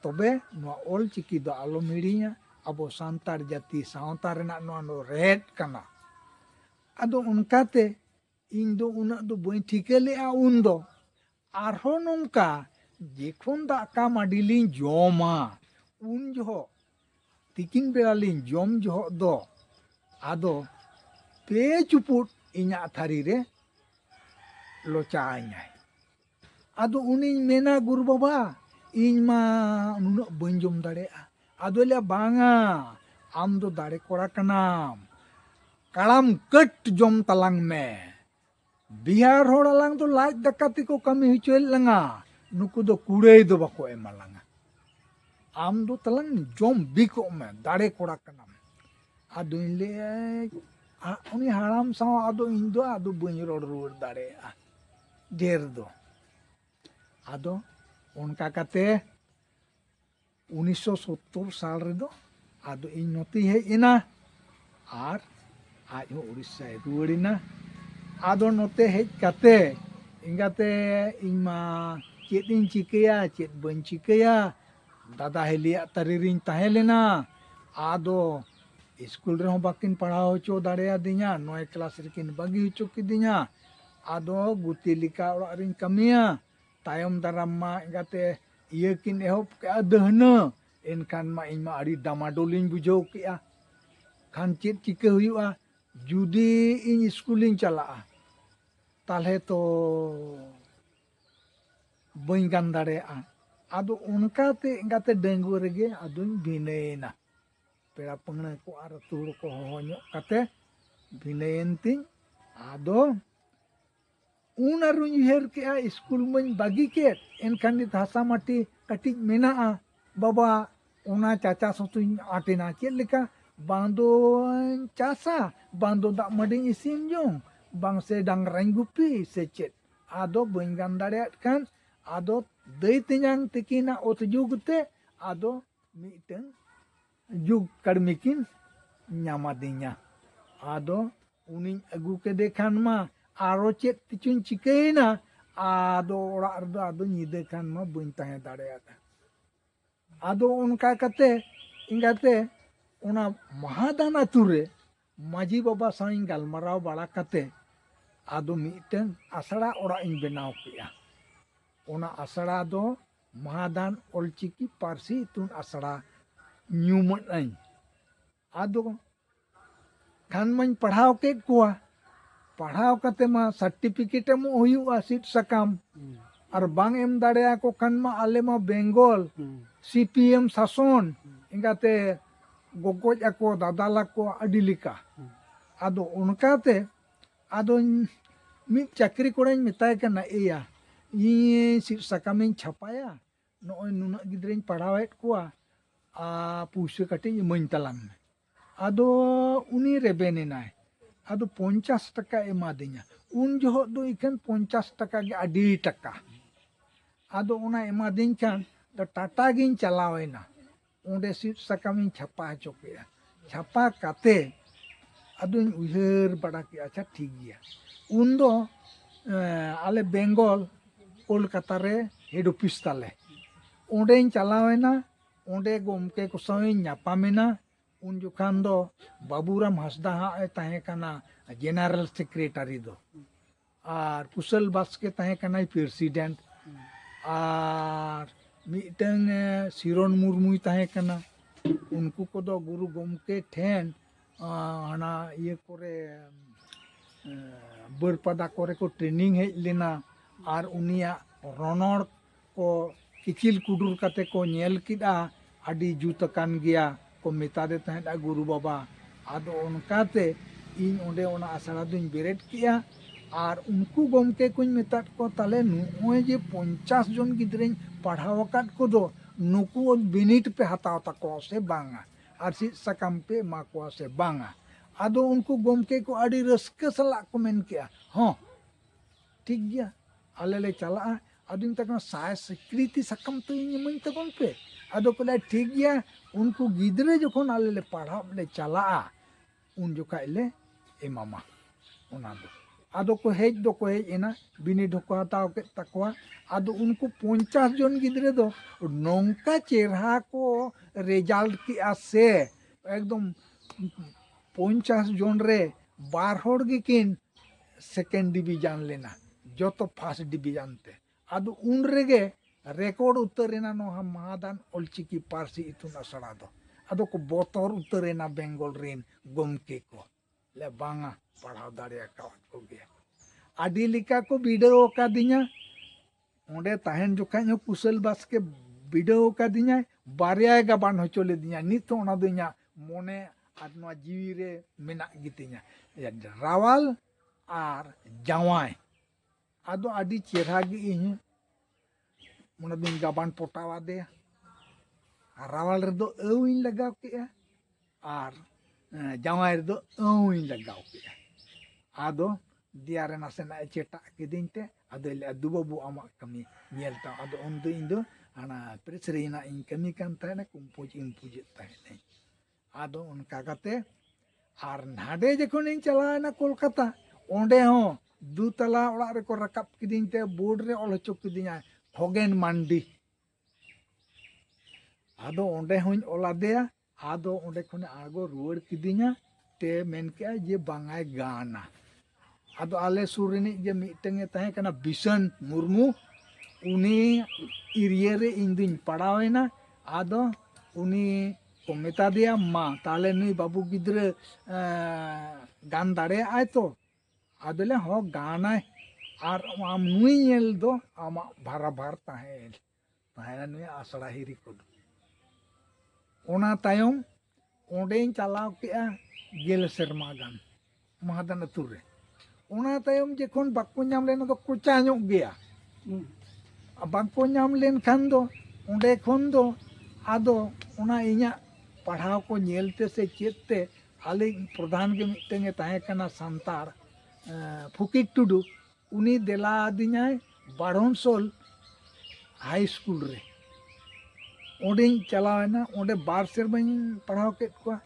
ᱛᱚᱵᱮ ᱱᱚᱣᱟ ᱚᱞ ᱪᱤᱠᱤ ᱫᱚ ᱟᱞᱚᱢ ᱦᱤᱲᱤᱧᱟ ᱟᱵᱚ ᱥᱟᱱᱛᱟᱲ ᱡᱟᱹᱛᱤ ᱥᱟᱶᱛᱟ ᱨᱮᱱᱟᱜ ᱱᱚᱣᱟ ᱫᱚ ᱨᱮᱦᱮᱫ ᱠᱟᱱᱟ ᱟᱫᱚ ᱚᱱᱠᱟᱛᱮ ᱤᱧ ᱫᱚ ᱩᱱᱟᱹᱜ ᱫᱚ ᱵᱟᱹᱧ ᱴᱷᱤᱠᱟᱹ ᱞᱮᱫᱼᱟ ᱩᱱ ᱫᱚ ᱟᱨᱦᱚᱸ ᱱᱚᱝᱠᱟ ᱡᱚᱠᱷᱚᱱ ᱫᱟᱠᱟ ᱢᱟᱹᱰᱤ ᱞᱤᱧ ᱡᱚᱢᱟ ᱩᱱ ᱡᱚᱦᱚᱜ ᱛᱤᱠᱤᱱ ᱵᱮᱲᱟ ᱞᱤᱧ ᱡᱚᱢ ᱡᱚᱦᱚᱜ ᱫᱚ ᱟᱫᱚ ᱯᱮ ᱪᱩᱯᱩᱫ ᱤᱧᱟᱹᱜ ᱛᱷᱟᱹᱨᱤ ᱨᱮ ᱞᱚᱪᱟ ᱟᱹᱧᱟᱭ ᱟᱫᱚ ᱩᱱᱤᱧ ᱢᱮᱱᱟ ᱜᱩᱨᱩ ᱵᱟᱵᱟ ᱤᱧ ᱢᱟ ᱱᱩᱱᱟᱹᱜ ᱵᱟᱹᱧ ᱡᱚᱢ ᱫᱟᱲᱮᱭᱟᱜᱼᱟ ᱟᱫᱚᱭ ᱞᱟᱹᱭᱟ ᱵᱟᱝᱟ ᱟᱢ ᱫᱚ ᱫᱟᱲᱮ ᱠᱚᱲᱟ ᱠᱟᱱᱟᱢ ᱠᱟᱲᱟᱢ ᱠᱟᱹᱴ ᱡᱚᱢ ᱛᱟᱞᱟᱝ ᱢᱮ ᱵᱤᱦᱟᱨ ᱦᱚᱲ ᱟᱞᱟᱝ ᱫᱚ ᱞᱟᱡ ᱫᱟᱠᱟ ᱛᱮᱠᱚ ᱠᱟᱹᱢᱤ ᱦᱚᱪᱚᱭᱮᱫ ᱞᱟᱝᱟ ᱱᱩᱠᱩ ᱫᱚ ᱠᱩᱲᱟᱹᱭ ᱫᱚ ᱵᱟᱠᱚ ᱮᱢᱟ ᱞᱟᱝᱟ ᱟᱢ ᱫᱚ ᱛᱟᱞᱟᱝ ᱡᱚᱢ ᱵᱤᱠᱚᱜ ᱢᱮ ᱫᱟᱲᱮ ᱠᱚᱲᱟ ᱠᱟᱱᱟᱢ ᱟᱫᱚᱧ ᱞᱟᱹᱭᱟ ᱩᱱᱤ ᱦᱟᱲᱟᱢ ᱥᱟᱶ ᱟᱫᱚ ᱤᱧ ᱫᱚ ᱟᱫᱚ ᱵᱟᱹᱧ ᱨᱚᱲ ᱨᱩᱣᱟᱹᱲ ᱫᱟᱲᱮᱭᱟᱜᱼᱟ ᱰᱷᱮᱨ ᱫᱚ ᱟᱫᱚ ᱚᱱᱠᱟ ᱠᱟᱛᱮ ᱩᱱᱤᱥᱥᱚ ᱥᱳᱛᱛᱳᱨ ᱥᱟᱞ ᱨᱮᱫᱚ ᱟᱫᱚ ᱤᱧ ᱱᱚᱛᱮᱧ ᱦᱮᱡ ᱮᱱᱟ ᱟᱨ ᱟᱡ ᱦᱚᱸ ᱩᱲᱤᱥᱥᱟᱭ ᱨᱩᱣᱟᱹᱲ ᱮᱱᱟ ᱟᱫᱚ ᱱᱚᱛᱮ ᱦᱮᱡ ᱠᱟᱛᱮ ᱮᱸᱜᱟᱛᱮ ᱤᱧ ᱢᱟ ᱪᱮᱫ ᱤᱧ ᱪᱤᱠᱟᱹᱭᱟ ᱪᱮᱫ ᱵᱟᱹᱧ ᱪᱤᱠᱟᱹᱭᱟ ᱫᱟᱫᱟ ᱦᱤᱞᱤᱭᱟᱜ ᱛᱟᱹᱨᱤ ᱨᱤᱧ ᱛᱟᱦᱮᱸ ᱞᱮᱱᱟ ᱟᱫᱚ ᱤᱥᱠᱩᱞ ᱨᱮᱦᱚᱸ ᱵᱟᱹᱠᱤᱱ ᱯᱟᱲᱦᱟᱣ ᱦᱚᱪᱚ ᱫᱟᱲᱮᱭᱟᱫᱤᱧᱟ ᱱᱚᱭ ᱠᱞᱟᱥ ᱨᱮᱠᱤᱱ ᱵᱟᱹᱜᱤ ᱦᱚᱪᱚ ᱠᱤᱫᱤᱧᱟ ᱟᱫᱚ ᱜᱩᱛᱤ ᱞᱮᱠᱟ ᱚᱲᱟᱜ ᱨᱤᱧ ᱠᱟᱹᱢᱤᱭᱟ ᱛᱟᱭᱚᱢ ᱫᱟᱨᱟᱢ ᱢᱟ ᱮᱸᱜᱟᱛᱮ ᱤᱭᱟᱹ ᱠᱤᱱ ᱮᱦᱚᱵ ᱠᱮᱜᱼᱟ ᱫᱟᱹᱦᱱᱟᱹ ᱮᱱᱠᱷᱟᱱ ᱢᱟ ᱤᱧ ᱢᱟ ᱟᱹᱰᱤ ᱰᱟᱢᱟᱰᱳᱞᱤᱧ ᱵᱩᱡᱷᱟᱹᱣ ᱠᱮᱜᱼᱟ ᱠᱷᱟᱱ ᱪᱮᱫ ᱪᱤᱠᱟᱹ ᱦᱩᱭᱩᱜᱼᱟ ᱡᱩᱫᱤ ᱤᱧ ᱥᱠᱩᱞᱤᱧ ᱪᱟᱞᱟᱜᱼᱟ ᱛᱟᱦᱚᱞᱮ ᱛᱚ ᱵᱟᱹᱧ ᱜᱟᱱ ᱫᱟᱲᱮᱭᱟᱜᱼᱟ ᱟᱫᱚ ᱚᱱᱠᱟᱛᱮ ᱮᱸᱜᱟᱛᱮ ᱰᱟᱺᱜᱩᱣᱟᱹ ᱨᱮᱜᱮ ᱟᱫᱚᱧ ᱵᱷᱤᱱᱟᱹᱭᱮᱱᱟ ᱯᱮᱲᱟ ᱯᱟᱹᱦᱬᱟᱹ ᱠᱚ ᱟᱨ ᱟᱹᱛᱩ ᱦᱚᱲ ᱠᱚ ᱦᱚᱦᱚ ᱧᱚᱜ ᱠᱟᱛᱮ ᱵᱷᱤᱱᱟᱹᱭᱮᱱ ᱛᱤᱧ ᱟᱫᱚ ᱩᱱ ᱟᱨᱩᱧ ᱩᱭᱦᱟᱹᱨ ᱠᱮᱜᱼᱟ ᱥᱠᱩᱞ ᱢᱟᱹᱧ ᱵᱟᱹᱜᱤ ᱠᱮᱫ ᱮᱱᱠᱷᱟᱱ ᱱᱤᱛ ᱦᱟᱥᱟ ᱢᱟᱹᱴᱤ ᱠᱟᱹᱴᱤᱡ ᱢᱮᱱᱟᱜᱼᱟ ᱵᱟᱵᱟ ᱚᱱᱟ ᱪᱟᱪᱟᱥ ᱦᱚᱸᱛᱚᱧ ᱟᱴᱮᱱᱟ ᱪᱮᱫ ᱞᱮᱠᱟ ᱵᱟᱝ ᱫᱚᱧ ᱪᱟᱥᱟ ᱵᱟᱝ ᱫᱚ ᱫᱟᱜ ᱢᱟᱹᱰᱤᱧ ᱤᱥᱤᱱ ᱡᱚᱝ ᱵᱟᱝ ᱥᱮ ᱰᱟᱝᱨᱟᱧ ᱜᱩᱯᱤ ᱥᱮ ᱪᱮᱫ ᱟᱫᱚ ᱵᱟᱹᱧ ᱜᱟᱱ ᱫᱟᱲᱮᱭᱟᱜ ᱠᱟᱱ ᱟᱫᱚ ᱫᱟᱹᱭ ᱛᱮᱧᱟᱝ ᱛᱤᱠᱤᱱᱟᱜ ᱚᱛ ᱡᱩᱜᱽ ᱛᱮ ᱟᱫᱚ ᱢᱤᱫᱴᱟᱝ ᱡᱩᱜᱽ ᱠᱟᱹᱲᱢᱤ ᱠᱤᱱ ᱧᱟᱢᱟᱫᱤᱧᱟ ᱟᱫᱚ ᱩᱱᱤᱧ ᱟᱹᱜᱩ ᱠᱮᱫᱮ ᱠᱷᱟᱱ ᱢᱟ ᱟᱨᱚ ᱪᱮᱫ ᱛᱮᱪᱚᱧ ᱪᱤᱠᱟᱹᱭᱮᱱᱟ ᱟᱫᱚ ᱚᱲᱟᱜ ᱨᱮᱫᱚ ᱟᱫᱚ ᱧᱤᱫᱟᱹ ᱠᱷᱟᱱ ᱢᱟ ᱵᱟᱹᱧ ᱛᱟᱦᱮᱸ ᱫᱟᱲᱮᱭᱟᱫᱟ ᱟᱫᱚ ᱚᱱᱠᱟ ᱠᱟᱛᱮ ᱤᱱᱠᱟᱛᱮ ᱚᱱᱟ ᱢᱟᱦᱟᱫᱟᱱ ᱟᱛᱳ ᱨᱮ ᱢᱟᱹᱡᱷᱤ ᱵᱟᱵᱟ ᱥᱟᱶ ᱤᱧ ᱜᱟᱞᱢᱟᱨᱟᱣ ᱵᱟᱲᱟ ᱠᱟᱛᱮ ᱟᱫᱚ ᱢᱤᱫᱴᱟᱝ ᱟᱥᱲᱟ ᱚᱲᱟᱜ ᱤᱧ ᱵᱮᱱᱟᱣ ᱠᱮᱫᱼᱟ ᱚᱱᱟ ᱟᱥᱲᱟ ᱫᱚ ᱢᱟᱦᱟᱫᱟᱱ ᱚᱞᱪᱤᱠᱤ ᱯᱟᱹᱨᱥᱤ ᱤᱛᱩᱱ ᱟᱥᱲᱟ ᱧᱩᱢᱟᱹᱫ ᱟᱹᱧ ᱟᱫᱚ ᱠᱷᱟᱱ ᱢᱟᱧ ᱯᱟᱲᱦᱟᱣ ᱠᱮᱫ ᱠᱚᱣᱟ ᱯᱟᱲᱦᱟᱣ ᱠᱟᱛᱮ ᱢᱟ ᱥᱟᱨᱴᱤᱯᱷᱤᱠᱮᱴ ᱮᱢᱚᱜ ᱦᱩᱭᱩᱜᱼᱟ ᱥᱤᱫ ᱥᱟᱠᱟᱢ ᱟᱨ ᱵᱟᱝ ᱮᱢ ᱫᱟᱲᱮᱭᱟᱠᱚ ᱠᱷᱟᱱ ᱢᱟ ᱟᱞᱮ ᱢᱟ ᱵᱮᱝᱜᱚᱞ ᱥᱤᱯᱤᱮᱢ ᱥᱟᱥᱚᱱ ᱮᱸᱜᱟᱛᱮ ᱜᱚᱜᱚᱡ ᱟᱠᱚ ᱫᱟᱫᱟᱞ ᱟᱠᱚ ᱟᱹᱰᱤ ᱞᱮᱠᱟ ᱟᱫᱚ ᱚᱱᱠᱟᱛᱮ ᱟᱫᱚᱧ ᱢᱤᱫ ᱪᱟᱹᱠᱨᱤ ᱠᱚᱲᱟᱧ ᱢᱮᱛᱟᱭ ᱠᱟᱱᱟ ᱮᱭᱟ ᱤᱧ ᱥᱤᱫ ᱥᱟᱠᱟᱢᱤᱧ ᱪᱷᱟᱯᱟᱭᱟ ᱱᱚᱜᱼᱚᱭ ᱱᱩᱱᱟᱹᱜ ᱜᱤᱫᱽᱨᱟᱹᱧ ᱯᱟᱲᱦᱟᱣᱮᱫ ᱠᱚᱣᱟ ᱟᱨ ᱯᱩᱭᱥᱟᱹ ᱠᱟᱹᱴᱤᱡ ᱤᱢᱟᱹᱧ ᱛᱟᱞᱟᱝ ᱢᱮ ᱟᱫᱚ ᱩᱱᱤ ᱨᱮᱵᱮᱱ ᱮᱱᱟᱭ ᱟᱫᱚ ᱯᱚᱧᱪᱟᱥ ᱴᱟᱠᱟ ᱮᱢᱟᱫᱤᱧᱟ ᱩᱱ ᱡᱚᱦᱚᱜ ᱫᱚ ᱤᱠᱷᱟᱹᱱ ᱯᱚᱧᱪᱟᱥ ᱴᱟᱠᱟ ᱜᱮ ᱟᱹᱰᱤ ᱴᱟᱠᱟ ᱟᱫᱚ ᱚᱱᱟ ᱮᱢᱟᱫᱤᱧ ᱠᱷᱟᱱ ᱴᱟᱴᱟ ᱜᱤᱧ ᱪᱟᱞᱟᱣᱮᱱᱟ ᱚᱸᱰᱮ ᱥᱤᱫ ᱥᱟᱠᱟᱢ ᱤᱧ ᱪᱷᱟᱯᱟ ᱦᱚᱪᱚ ᱠᱮᱫᱼᱟ ᱪᱷᱟᱯᱟ ᱠᱟᱛᱮ ᱟᱫᱚᱧ ᱩᱭᱦᱟᱹᱨ ᱵᱟᱲᱟ ᱠᱮᱫᱼᱟ ᱟᱪᱪᱷᱟ ᱴᱷᱤᱠ ᱜᱮᱭᱟ ᱩᱱ ᱫᱚ ᱟᱞᱮ ᱵᱮᱝᱜᱚᱞ ᱠᱳᱞᱠᱟᱛᱟ ᱨᱮ ᱦᱮᱰ ᱚᱯᱷᱤᱥ ᱛᱟᱞᱮ ᱚᱸᱰᱮᱧ ᱪᱟᱞᱟᱣ ᱮᱱᱟ ᱚᱸᱰᱮ ᱜᱚᱢᱠᱮ ᱠᱚ ᱥᱟᱶ ᱤᱧ ᱧᱟᱯᱟᱢ ᱮᱱᱟ ᱩᱱ ᱡᱚᱠᱷᱟᱱ ᱫᱚ ᱵᱟᱹᱵᱩᱨᱟᱢ ᱦᱟᱸᱥᱫᱟ ᱦᱟᱸᱜ ᱮ ᱛᱟᱦᱮᱸ ᱠᱟᱱᱟ ᱡᱮᱱᱟᱨᱮᱞ ᱥᱮᱠᱨᱮᱴᱟᱨᱤ ᱫᱚ ᱟᱨ ᱠᱩᱥᱚᱞ ᱵᱟᱥᱠᱮ ᱛᱟᱦᱮᱸ ᱠᱟᱱᱟᱭ ᱯᱨᱮᱥᱤᱰᱮᱱᱴ ᱟᱨ ᱢᱤᱫᱴᱟᱝ ᱥᱤᱨᱚᱱ ᱢᱩᱨᱢᱩᱭ ᱛᱟᱦᱮᱸ ᱠᱟᱱᱟ ᱩᱱᱠᱩ ᱠᱚᱫᱚ ᱜᱩᱨᱩ ᱜᱚᱢᱠᱮ ᱴᱷᱮᱱ ᱦᱟᱱᱟ ᱤᱭᱟᱹ ᱠᱚᱨᱮ ᱵᱟᱹᱨᱯᱟᱫᱟ ᱠᱚᱨᱮ ᱠᱚ ᱴᱨᱮᱱᱤᱝ ᱦᱮᱡ ᱞᱮᱱᱟ ᱟᱨ ᱩᱱᱤᱭᱟᱜ ᱨᱚᱱᱚᱲ ᱠᱚ ᱤᱠᱤᱞ ᱠᱩᱰᱩᱨ ᱠᱟᱛᱮ ᱠᱚ ᱧᱮᱞ ᱠᱮᱫᱼᱟ ᱟᱹᱰᱤ ᱡᱩᱛ ᱟᱠᱟᱱ ᱜᱮᱭᱟ ᱠᱚ ᱢᱮᱛᱟᱫᱮ ᱛᱟᱦᱮᱸᱫᱼᱟ ᱜᱩᱨᱩ ᱵᱟᱵᱟ ᱟᱫᱚ ᱚᱱᱠᱟᱛᱮ ᱤᱧ ᱚᱸᱰᱮ ᱚᱱᱟ ᱟᱥᱲᱟ ᱫᱩᱧ ᱵᱮᱨᱮᱫ ᱠᱮᱫᱼᱟ ᱟᱨ ᱩᱱᱠᱩ ᱜᱚᱢᱠᱮ ᱠᱚᱧ ᱢᱮᱛᱟᱫ ᱠᱚᱣᱟ ᱛᱟᱦᱚᱞᱮ ᱱᱚᱜᱼᱚᱭ ᱡᱮ ᱯᱚᱧᱪᱟᱥ ᱡᱚᱱ ᱜᱤᱫᱽᱨᱟᱹᱧ ᱯᱟᱲᱦᱟᱣ ᱟᱠᱟᱫ ᱠᱚᱫᱚ ᱱᱩᱠᱩ ᱵᱤᱱᱤᱰ ᱯᱮ ᱦᱟᱛᱟᱣ ᱛᱟᱠᱚᱣᱟ ᱥᱮ ᱵᱟᱝᱟ ᱟᱨ ᱥᱤᱫ ᱥᱟᱠᱟᱢ ᱯᱮ ᱮᱢᱟ ᱠᱚᱣᱟ ᱥᱮ ᱵᱟᱝᱟ ᱟᱫᱚ ᱩᱱᱠᱩ ᱜᱚᱢᱠᱮ ᱠᱚ ᱟᱹᱰᱤ ᱨᱟᱹᱥᱠᱟᱹ ᱥᱟᱞᱟᱜ ᱠᱚ ᱢᱮᱱ ᱠᱮᱫᱼᱟ ᱦᱚᱸ ᱴᱷᱤᱠ ᱜᱮᱭᱟ ᱟᱞᱮ ᱞᱮ ᱪᱟᱞᱟᱜᱼᱟ ᱟᱫᱚᱧ ᱢᱮᱛᱟ ᱠᱟᱱᱟ ᱥᱟᱭ ᱥᱤᱠᱨᱤᱛᱤ ᱥᱟᱠᱟᱢ ᱛᱚ ᱤᱧ ᱤᱢᱟᱹᱧ ᱛᱟᱵᱚᱱ ᱯᱮ ᱟᱫᱚ ᱠᱚ ᱞᱟᱹᱭᱟ ᱴᱷᱤᱠ ᱜᱮᱭᱟ ᱩᱱᱠᱩ ᱜᱤᱫᱽᱨᱟᱹ ᱡᱚᱠᱷᱚᱱ ᱟᱞᱮ ᱞᱮ ᱯᱟᱲᱦᱟᱜ ᱞᱮ ᱪᱟᱞᱟᱜᱼᱟ ᱩᱱ ᱡᱚᱠᱷᱟᱡ ᱞᱮ ᱮᱢᱟᱢᱟ ᱚᱱᱟ ᱫᱚ ᱟᱫᱚ ᱠᱚ ᱦᱮᱡ ᱫᱚᱠᱚ ᱦᱮᱡ ᱮᱱᱟ ᱵᱤᱱᱤᱰ ᱦᱚᱸᱠᱚ ᱦᱟᱛᱟᱣ ᱠᱮᱫ ᱛᱟᱠᱚᱣᱟ ᱟᱫᱚ ᱩᱱᱠᱩ ᱯᱚᱧᱪᱟᱥ ᱡᱚᱱ ᱜᱤᱫᱽᱨᱟᱹ ᱫᱚ ᱱᱚᱝᱠᱟ ᱪᱮᱨᱦᱟ ᱠᱚ ᱨᱮᱡᱟᱞᱴ ᱠᱮᱜᱼᱟ ᱥᱮ ᱮᱠᱫᱚᱢ ᱯᱚᱧᱪᱟᱥ ᱡᱚᱱ ᱨᱮ ᱵᱟᱨ ᱦᱚᱲ ᱜᱮᱠᱤᱱ ᱥᱮᱠᱮᱱᱰ ᱰᱤᱵᱷᱤᱡᱟᱱ ᱞᱮᱱᱟ ᱡᱚᱛᱚ ᱯᱷᱟᱥᱴ ᱰᱤᱵᱷᱤᱡᱟᱱ ᱛᱮ ᱟᱫᱚ ᱩᱱ ᱨᱮᱜᱮ ᱨᱮᱠᱚᱨᱰ ᱩᱛᱟᱹᱨ ᱮᱱᱟ ᱱᱚᱣᱟ ᱢᱟᱦᱟᱫᱟᱱ ᱚᱞ ᱪᱤᱠᱤ ᱯᱟᱹᱨᱥᱤ ᱤᱛᱩᱱ ᱟᱥᱲᱟ ᱫᱚ ᱟᱫᱚ ᱠᱚ ᱵᱚᱛᱚᱨ ᱩᱛᱟᱹᱨ ᱮᱱᱟ ᱵᱮᱝᱜᱚᱞ ᱨᱮᱱ ᱜᱚᱢᱠᱮ ᱠᱚ ᱞᱮ ᱵᱟᱝᱟ ᱯᱟᱲᱦᱟᱣ ᱫᱟᱲᱮ ᱟᱠᱟᱫ ᱠᱚᱜᱮᱭᱟ ᱟᱹᱰᱤ ᱞᱮᱠᱟ ᱠᱚ ᱵᱤᱰᱟᱹᱣ ᱟᱠᱟᱫᱤᱧᱟ ᱚᱸᱰᱮ ᱛᱟᱦᱮᱱ ᱡᱚᱠᱷᱟᱡ ᱦᱚᱸ ᱠᱩᱥᱟᱹᱞ ᱵᱟᱥᱠᱮ ᱵᱤᱰᱟᱹᱣ ᱟᱠᱟᱫᱤᱧᱟᱭ ᱵᱟᱨᱭᱟᱭ ᱜᱟᱵᱟᱱ ᱦᱚᱪᱚ ᱞᱮᱫᱤᱧᱟ ᱱᱤᱛ ᱦᱚᱸ ᱚᱱᱟ ᱫᱚ ᱤᱧᱟᱹᱜ ᱢᱚᱱᱮ ᱟᱨ ᱱᱚᱣᱟ ᱡᱤᱣᱤ ᱨᱮ ᱢᱮᱱᱟᱜ ᱜᱮᱛᱤᱧᱟ ᱨᱟᱣᱟᱞ ᱟᱨ ᱡᱟᱶᱟᱭ ᱟᱫᱚ ᱟᱹᱰᱤ ᱪᱮᱦᱨᱟ ᱜᱮ ᱤᱧ ᱚᱱᱟ ᱫᱚᱧ ᱜᱟᱵᱟᱱ ᱯᱚᱴᱟᱣ ᱟᱫᱮᱭᱟ ᱟᱨ ᱨᱟᱣᱟᱞ ᱨᱮᱫᱚ ᱟᱹᱣ ᱤᱧ ᱞᱟᱜᱟᱣ ᱠᱮᱫᱼᱟ ᱟᱨ ᱡᱟᱶᱟᱭ ᱨᱮᱫᱚ ᱟᱹᱣᱤᱧ ᱞᱟᱜᱟᱣ ᱠᱮᱫᱟ ᱟᱫᱚ ᱫᱮᱭᱟ ᱨᱮ ᱱᱟᱥᱮᱱᱟᱜ ᱮ ᱪᱮᱴᱟᱜ ᱠᱤᱫᱤᱧ ᱛᱮ ᱟᱫᱚᱭ ᱞᱟᱹᱭᱟ ᱫᱩ ᱵᱟᱹᱵᱩ ᱟᱢᱟᱜ ᱠᱟᱹᱢᱤ ᱧᱮᱞ ᱛᱟᱢ ᱟᱫᱚ ᱩᱱᱫᱚ ᱤᱧ ᱫᱚ ᱦᱟᱱᱟ ᱯᱨᱮᱥ ᱨᱮᱱᱟᱜ ᱤᱧ ᱠᱟᱹᱢᱤ ᱠᱟᱱ ᱛᱟᱦᱮᱱᱟ ᱠᱩᱢᱯᱩᱡᱽ ᱤᱢᱯᱩᱡᱮᱫ ᱛᱟᱦᱮᱱᱟᱹᱧ ᱟᱫᱚ ᱚᱱᱠᱟ ᱠᱟᱛᱮ ᱟᱨ ᱱᱟᱰᱮ ᱡᱚᱠᱷᱚᱱᱤᱧ ᱪᱟᱞᱟᱣᱮᱱᱟ ᱠᱳᱞᱠᱟᱛᱟ ᱚᱸᱰᱮ ᱦᱚᱸ ᱫᱩᱛᱟᱞᱟ ᱚᱲᱟᱜ ᱨᱮᱠᱚ ᱨᱟᱠᱟᱵ ᱠᱤᱫᱤᱧ ᱛᱮ ᱵᱳᱨᱰ ᱨᱮ ᱚᱞ ᱦᱚᱪᱚ ᱠᱤᱫᱤᱧᱟ ᱠᱷᱚᱜᱮᱱ ᱢᱟᱱᱰᱤ ᱟᱫᱚ ᱚᱸᱰᱮ ᱦᱚᱸᱧ ᱚᱞ ᱟᱫᱮᱭᱟ ᱟᱫᱚ ᱚᱸᱰᱮ ᱠᱷᱚᱱᱮ ᱟᱬᱜᱚ ᱨᱩᱣᱟᱹᱲ ᱠᱤᱫᱤᱧᱟ ᱛᱮ ᱢᱮᱱ ᱠᱮᱜᱼᱟ ᱡᱮ ᱵᱟᱝᱟᱭ ᱜᱟᱱᱟ ᱟᱫᱚ ᱟᱞᱮ ᱥᱩᱨ ᱨᱤᱱᱤᱡ ᱜᱮ ᱢᱤᱫᱴᱟᱝ ᱮ ᱛᱟᱦᱮᱸ ᱠᱟᱱᱟ ᱵᱤᱥᱚᱱ ᱢᱩᱨᱢᱩ ᱩᱱᱤ ᱮᱨᱤᱭᱟ ᱨᱮ ᱤᱧ ᱫᱩᱧ ᱯᱟᱲᱟᱣᱮᱱᱟ ᱟᱫᱚ ᱩᱱᱤ ᱠᱚ ᱢᱮᱛᱟ ᱫᱮᱭᱟ ᱢᱟ ᱛᱟᱦᱞᱮ ᱱᱩᱭ ᱵᱟᱹᱵᱩ ᱜᱤᱫᱽᱨᱟᱹ ᱜᱟᱱ ᱫᱟᱲᱮᱭᱟᱜᱼᱟᱭ ᱛᱚ ᱟᱫᱚᱞᱮ ᱦᱚᱸ ᱜᱟᱱᱟᱭ ᱟᱨ ᱟᱢ ᱱᱩᱭ ᱧᱮᱞ ᱫᱚ ᱟᱢᱟᱜ ᱵᱷᱟᱨᱟᱵᱷᱟᱨ ᱛᱟᱦᱮᱸ ᱛᱟᱦᱮᱱᱟ ᱱᱩᱭ ᱟᱥᱲᱟ ᱦᱤᱨᱤ ᱠᱚᱫᱚ ᱚᱱᱟ ᱛᱟᱭᱚᱢ ᱚᱸᱰᱮᱧ ᱪᱟᱞᱟᱣ ᱠᱮᱜᱼᱟ ᱜᱮᱞ ᱥᱮᱨᱢᱟ ᱜᱟᱱ ᱢᱟᱦᱟᱫᱟᱱ ᱟᱹᱛᱩ ᱨᱮ ᱚᱱᱟ ᱛᱟᱭᱚᱢ ᱡᱚᱠᱷᱚᱱ ᱵᱟᱠᱚ ᱧᱟᱢ ᱞᱮᱱᱟ ᱫᱚ ᱠᱚᱪᱟ ᱧᱚᱜ ᱜᱮᱭᱟ ᱵᱟᱠᱚ ᱧᱟᱢ ᱞᱮᱱᱠᱷᱟᱱ ᱫᱚ ᱚᱸᱰᱮ ᱠᱷᱚᱱ ᱫᱚ ᱟᱫᱚ ᱚᱱᱟ ᱤᱧᱟᱹᱜ ᱯᱟᱲᱦᱟᱣ ᱠᱚ ᱧᱮᱞ ᱛᱮ ᱥᱮ ᱪᱮᱫ ᱛᱮ ᱟᱞᱮ ᱯᱨᱚᱫᱷᱟᱱ ᱜᱮ ᱢᱤᱫᱴᱟᱝ ᱮ ᱛᱟᱦᱮᱸ ᱠᱟᱱᱟ ᱥᱟᱱᱛᱟᱲ ᱯᱷᱩᱠᱤᱨ ᱴᱩᱰᱩ ᱩᱱᱤ ᱫᱮᱞᱟ ᱟᱹᱫᱤᱧᱟᱭ ᱵᱟᱲᱦᱚᱱᱥᱳᱞ ᱦᱟᱭ ᱥᱠᱩᱞ ᱨᱮ ᱚᱸᱰᱮᱧ ᱪᱟᱞᱟᱣᱮᱱᱟ ᱚᱸᱰᱮ ᱵᱟᱨ ᱥᱮᱨᱢᱟᱧ ᱯᱟᱲᱦᱟᱣ ᱠᱮᱫ ᱠᱚᱣᱟ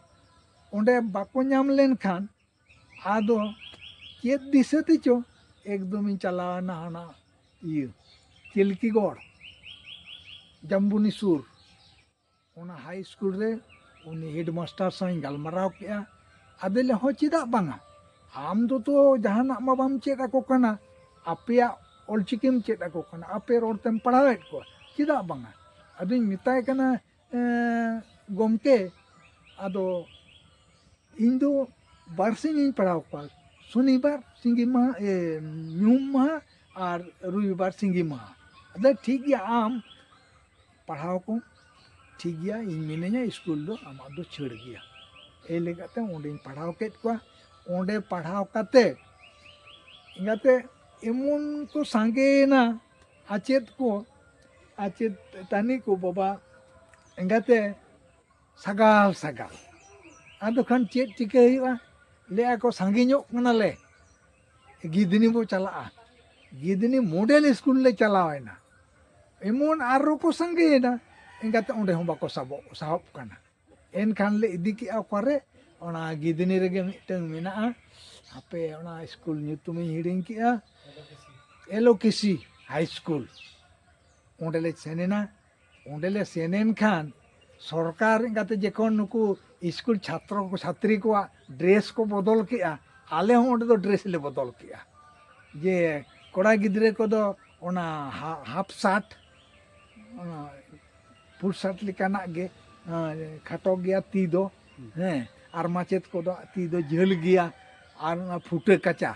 ᱚᱸᱰᱮ ᱵᱟᱠᱚ ᱧᱟᱢ ᱞᱮᱱᱠᱷᱟᱱ ᱟᱫᱚ ᱪᱮᱫ ᱫᱤᱥᱟᱹ ᱛᱮᱪᱚ ᱮᱠᱫᱚᱢᱤᱧ ᱪᱟᱞᱟᱣᱮᱱᱟ ᱦᱟᱱᱟ ᱤᱭᱟᱹ ᱪᱤᱞᱠᱤᱜᱚᱲ ᱡᱟᱢᱵᱩᱱᱤ ᱥᱩᱨ ᱚᱱᱟ ᱦᱟᱭ ᱥᱠᱩᱞ ᱨᱮ ᱩᱱᱤ ᱦᱮᱰ ᱢᱟᱥᱴᱟᱨ ᱥᱟᱶ ᱤᱧ ᱜᱟᱞᱢᱟᱨᱟᱣ ᱠᱮᱫᱼᱟ ᱟᱫᱚᱭ ᱞᱟᱹᱭᱮᱫᱼᱟ ᱦᱚᱸ ᱪᱮᱫᱟᱜ ᱵᱟᱝᱟ ᱟᱢ ᱫᱚ ᱛᱚ ᱡᱟᱦᱟᱱᱟᱜ ᱢᱟ ᱵᱟᱢ ᱪᱮᱫ ᱟᱠᱚ ᱠᱟᱱᱟ ᱟᱯᱮᱭᱟᱜ ᱚᱞ ᱪᱤᱠᱤᱢ ᱪᱮᱫ ᱟᱠᱚ ᱠᱟᱱᱟ ᱟᱯᱮ ᱨᱚᱲ ᱛᱮᱢ ᱯᱟᱲᱦᱟᱣᱮᱫ ᱠᱚᱣᱟ ᱪᱮᱫᱟᱜ ᱵᱟᱝᱟ ᱟᱫᱚᱧ ᱢᱮᱛᱟᱭ ᱠᱟᱱᱟ ᱜᱚᱢᱠᱮ ᱟᱫᱚ ᱤᱧ ᱫᱚ ᱵᱟᱨ ᱥᱤᱧ ᱤᱧ ᱯᱟᱲᱦᱟᱣ ᱠᱚᱣᱟ ᱥᱚᱱᱤᱵᱟᱨ ᱥᱤᱸᱜᱤ ᱢᱟᱦᱟ ᱧᱩᱦᱩᱢ ᱢᱟᱦᱟ ᱟᱨ ᱨᱚᱵᱤᱵᱟᱨ ᱥᱤᱸᱜᱤ ᱢᱟᱦᱟ ᱟᱫᱚ ᱴᱷᱤᱠ ᱜᱮᱭᱟ ᱟᱢ ᱯᱟᱲᱦᱟᱣ ᱠᱚᱢ ᱴᱷᱤᱠ ᱜᱮᱭᱟ ᱤᱧ ᱢᱤᱱᱟᱹᱧᱟ ᱤᱥᱠᱩᱞ ᱫᱚ ᱟᱢᱟᱜ ᱫᱚ ᱪᱷᱟᱹᱲ ᱜᱮᱭᱟ ᱮᱭ ᱞᱟᱹᱭ ᱠᱟᱛᱮ ᱚᱸᱰᱮᱧ ᱯᱟᱲᱦᱟᱣ ᱠᱮᱫ ᱠᱚᱣᱟ ᱚᱸᱰᱮ ᱯᱟᱲᱦᱟᱣ ᱠᱟᱛᱮ ᱡᱟᱛᱮ ᱮᱢᱚᱱ ᱠᱚ ᱥᱟᱸᱜᱮᱭᱮᱱᱟ ᱟᱪᱮᱫ ᱠᱚ ᱟᱪᱮᱫ ᱛᱟᱹᱱᱤ ᱠᱚ ᱵᱟᱵᱟ ᱮᱸᱜᱟᱛᱮ ᱥᱟᱜᱟᱞ ᱥᱟᱜᱟᱞ ᱟᱫᱚ ᱠᱷᱟᱱ ᱪᱮᱫ ᱪᱤᱠᱟᱹ ᱦᱩᱭᱩᱜᱼᱟ ᱞᱟᱹᱭᱮᱫᱼᱟ ᱠᱚ ᱥᱟᱸᱜᱮ ᱧᱚᱜ ᱠᱟᱱᱟᱞᱮ ᱜᱤᱫᱷᱱᱤ ᱵᱚ ᱪᱟᱞᱟᱜᱼᱟ ᱜᱤᱫᱷᱱᱤ ᱢᱚᱰᱮᱞ ᱥᱠᱩᱞ ᱞᱮ ᱪᱟᱞᱟᱣᱮᱱᱟ ᱮᱢᱚᱱ ᱟᱨᱚ ᱠᱚ ᱥᱟᱸᱜᱮᱭᱮᱱᱟ ᱮᱱᱠᱟᱛᱮ ᱚᱸᱰᱮ ᱦᱚᱸ ᱵᱟᱠᱚ ᱥᱟᱵᱚᱜ ᱥᱟᱦᱚᱵ ᱠᱟᱱᱟ ᱮᱱᱠᱷᱟᱱ ᱞᱮ ᱤᱫᱤ ᱠᱮᱜᱼᱟ ᱚᱠᱟᱨᱮ ᱚᱱᱟ ᱜᱤᱫᱷᱱᱤ ᱨᱮᱜᱮ ᱢᱤᱫᱴᱟᱹᱝ ᱢᱮᱱᱟᱜᱼᱟ ᱦᱟᱯᱮ ᱚᱱᱟ ᱥᱠᱩᱞ ᱧᱩᱛᱩᱢᱤᱧ ᱦᱤᱲᱤᱧ ᱠᱮᱜᱼᱟ ᱮᱞᱳᱠᱮᱥᱤ ᱦᱟᱭ ᱥᱠᱩᱞ ᱚᱸᱰᱮᱞᱮ ᱥᱮᱱ ᱮᱱᱟ ᱚᱸᱰᱮ ᱞᱮ ᱥᱮᱱ ᱮᱱ ᱠᱷᱟᱱ ᱥᱚᱨᱠᱟᱨ ᱮᱸᱜᱟᱛᱮ ᱡᱚᱠᱷᱚᱱ ᱱᱩᱠᱩ ᱥᱠᱩᱞ ᱪᱷᱟᱛᱨᱚ ᱠᱚ ᱪᱷᱟᱛᱨᱤ ᱠᱚᱣᱟᱜ ᱰᱨᱮᱥ ᱠᱚ ᱵᱚᱫᱚᱞ ᱠᱮᱜᱼᱟ ᱟᱞᱮ ᱦᱚᱸ ᱚᱸᱰᱮ ᱫᱚ ᱰᱨᱮᱥ ᱞᱮ ᱵᱚᱫᱚᱞ ᱠᱮᱜᱼᱟ ᱡᱮ ᱠᱚᱲᱟ ᱜᱤᱫᱽᱨᱟᱹ ᱠᱚᱫᱚ ᱚᱱᱟ ᱦᱟᱯ ᱥᱟᱨᱴ ᱚᱱᱟ ᱯᱷᱩᱞ ᱥᱟᱨᱴ ᱞᱮᱠᱟᱱᱟᱜ ᱜᱮ ᱠᱷᱟᱴᱚ ᱜᱮᱭᱟ ᱛᱤ ᱫᱚ ᱦᱮᱸ ᱟᱨ ᱢᱟᱪᱮᱫ ᱠᱚᱫᱚ ᱛᱤ ᱫᱚ ᱡᱷᱟᱹᱞ ᱜᱮᱭᱟ ᱟᱨ ᱚᱱᱟ ᱯᱷᱩᱴᱟᱹ ᱠᱟᱪᱟ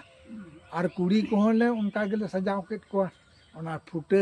ᱟᱨ ᱠᱩᱲᱤ ᱠᱚᱦᱚᱸ ᱞᱮ ᱚᱱᱠᱟ ᱜᱮᱞᱮ ᱥᱟᱡᱟᱣ ᱠᱮᱫ ᱠᱚᱣᱟ ᱚᱱᱟ ᱯᱷᱩᱴᱟᱹ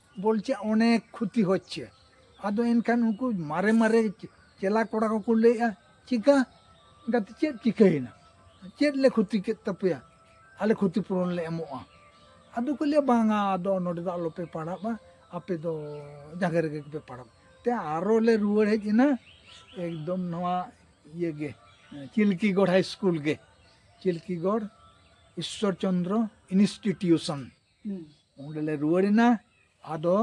ᱵᱚᱞᱪᱮ ᱚᱱᱮᱠ ᱠᱷᱩᱛᱤ ᱦᱚᱪᱪᱮ ᱟᱫᱚ ᱮᱱᱠᱷᱟᱱ ᱩᱱᱠᱩ ᱢᱟᱨᱮ ᱢᱟᱨᱮ ᱪᱮᱞᱟ ᱠᱚᱲᱟ ᱠᱚᱠᱚ ᱞᱟᱹᱭᱮᱜᱼᱟ ᱪᱤᱠᱟ ᱜᱟᱛᱮ ᱪᱮᱫ ᱪᱤᱠᱟᱹᱭᱮᱱᱟ ᱪᱮᱫ ᱞᱮ ᱠᱷᱩᱛᱤ ᱠᱮᱫ ᱛᱟᱯᱮᱭᱟ ᱟᱞᱮ ᱠᱷᱩᱛᱤ ᱯᱩᱨᱚᱱ ᱞᱮ ᱮᱢᱚᱜᱼᱟ ᱟᱫᱚ ᱠᱚ ᱞᱟᱹᱭᱟ ᱵᱟᱝᱟ ᱟᱫᱚ ᱱᱚᱰᱮ ᱫᱚ ᱟᱞᱚᱯᱮ ᱯᱟᱲᱟᱜᱼᱟ ᱟᱯᱮ ᱫᱚ ᱡᱟᱸᱜᱮ ᱨᱮᱜᱮ ᱯᱮ ᱯᱟᱲᱟᱜ ᱛᱮ ᱟᱨᱚ ᱞᱮ ᱨᱩᱣᱟᱹᱲ ᱦᱮᱡ ᱮᱱᱟ ᱮᱠᱫᱚᱢ ᱱᱚᱣᱟ ᱤᱭᱟᱹ ᱜᱮ ᱪᱤᱞᱠᱤᱜᱚᱲ ᱦᱟᱭ ᱥᱠᱩᱞ ᱜᱮ ᱪᱤᱞᱠᱤᱜᱚᱲ ᱤᱥᱥᱚᱨ ᱪᱚᱱᱫᱨᱚ ᱤᱱᱥᱴᱤᱴᱤᱭᱩᱥᱚᱱ ᱚᱸᱰᱮᱞᱮ ᱨᱩᱣᱟᱹᱲ ᱮᱱᱟ ᱟᱫᱚ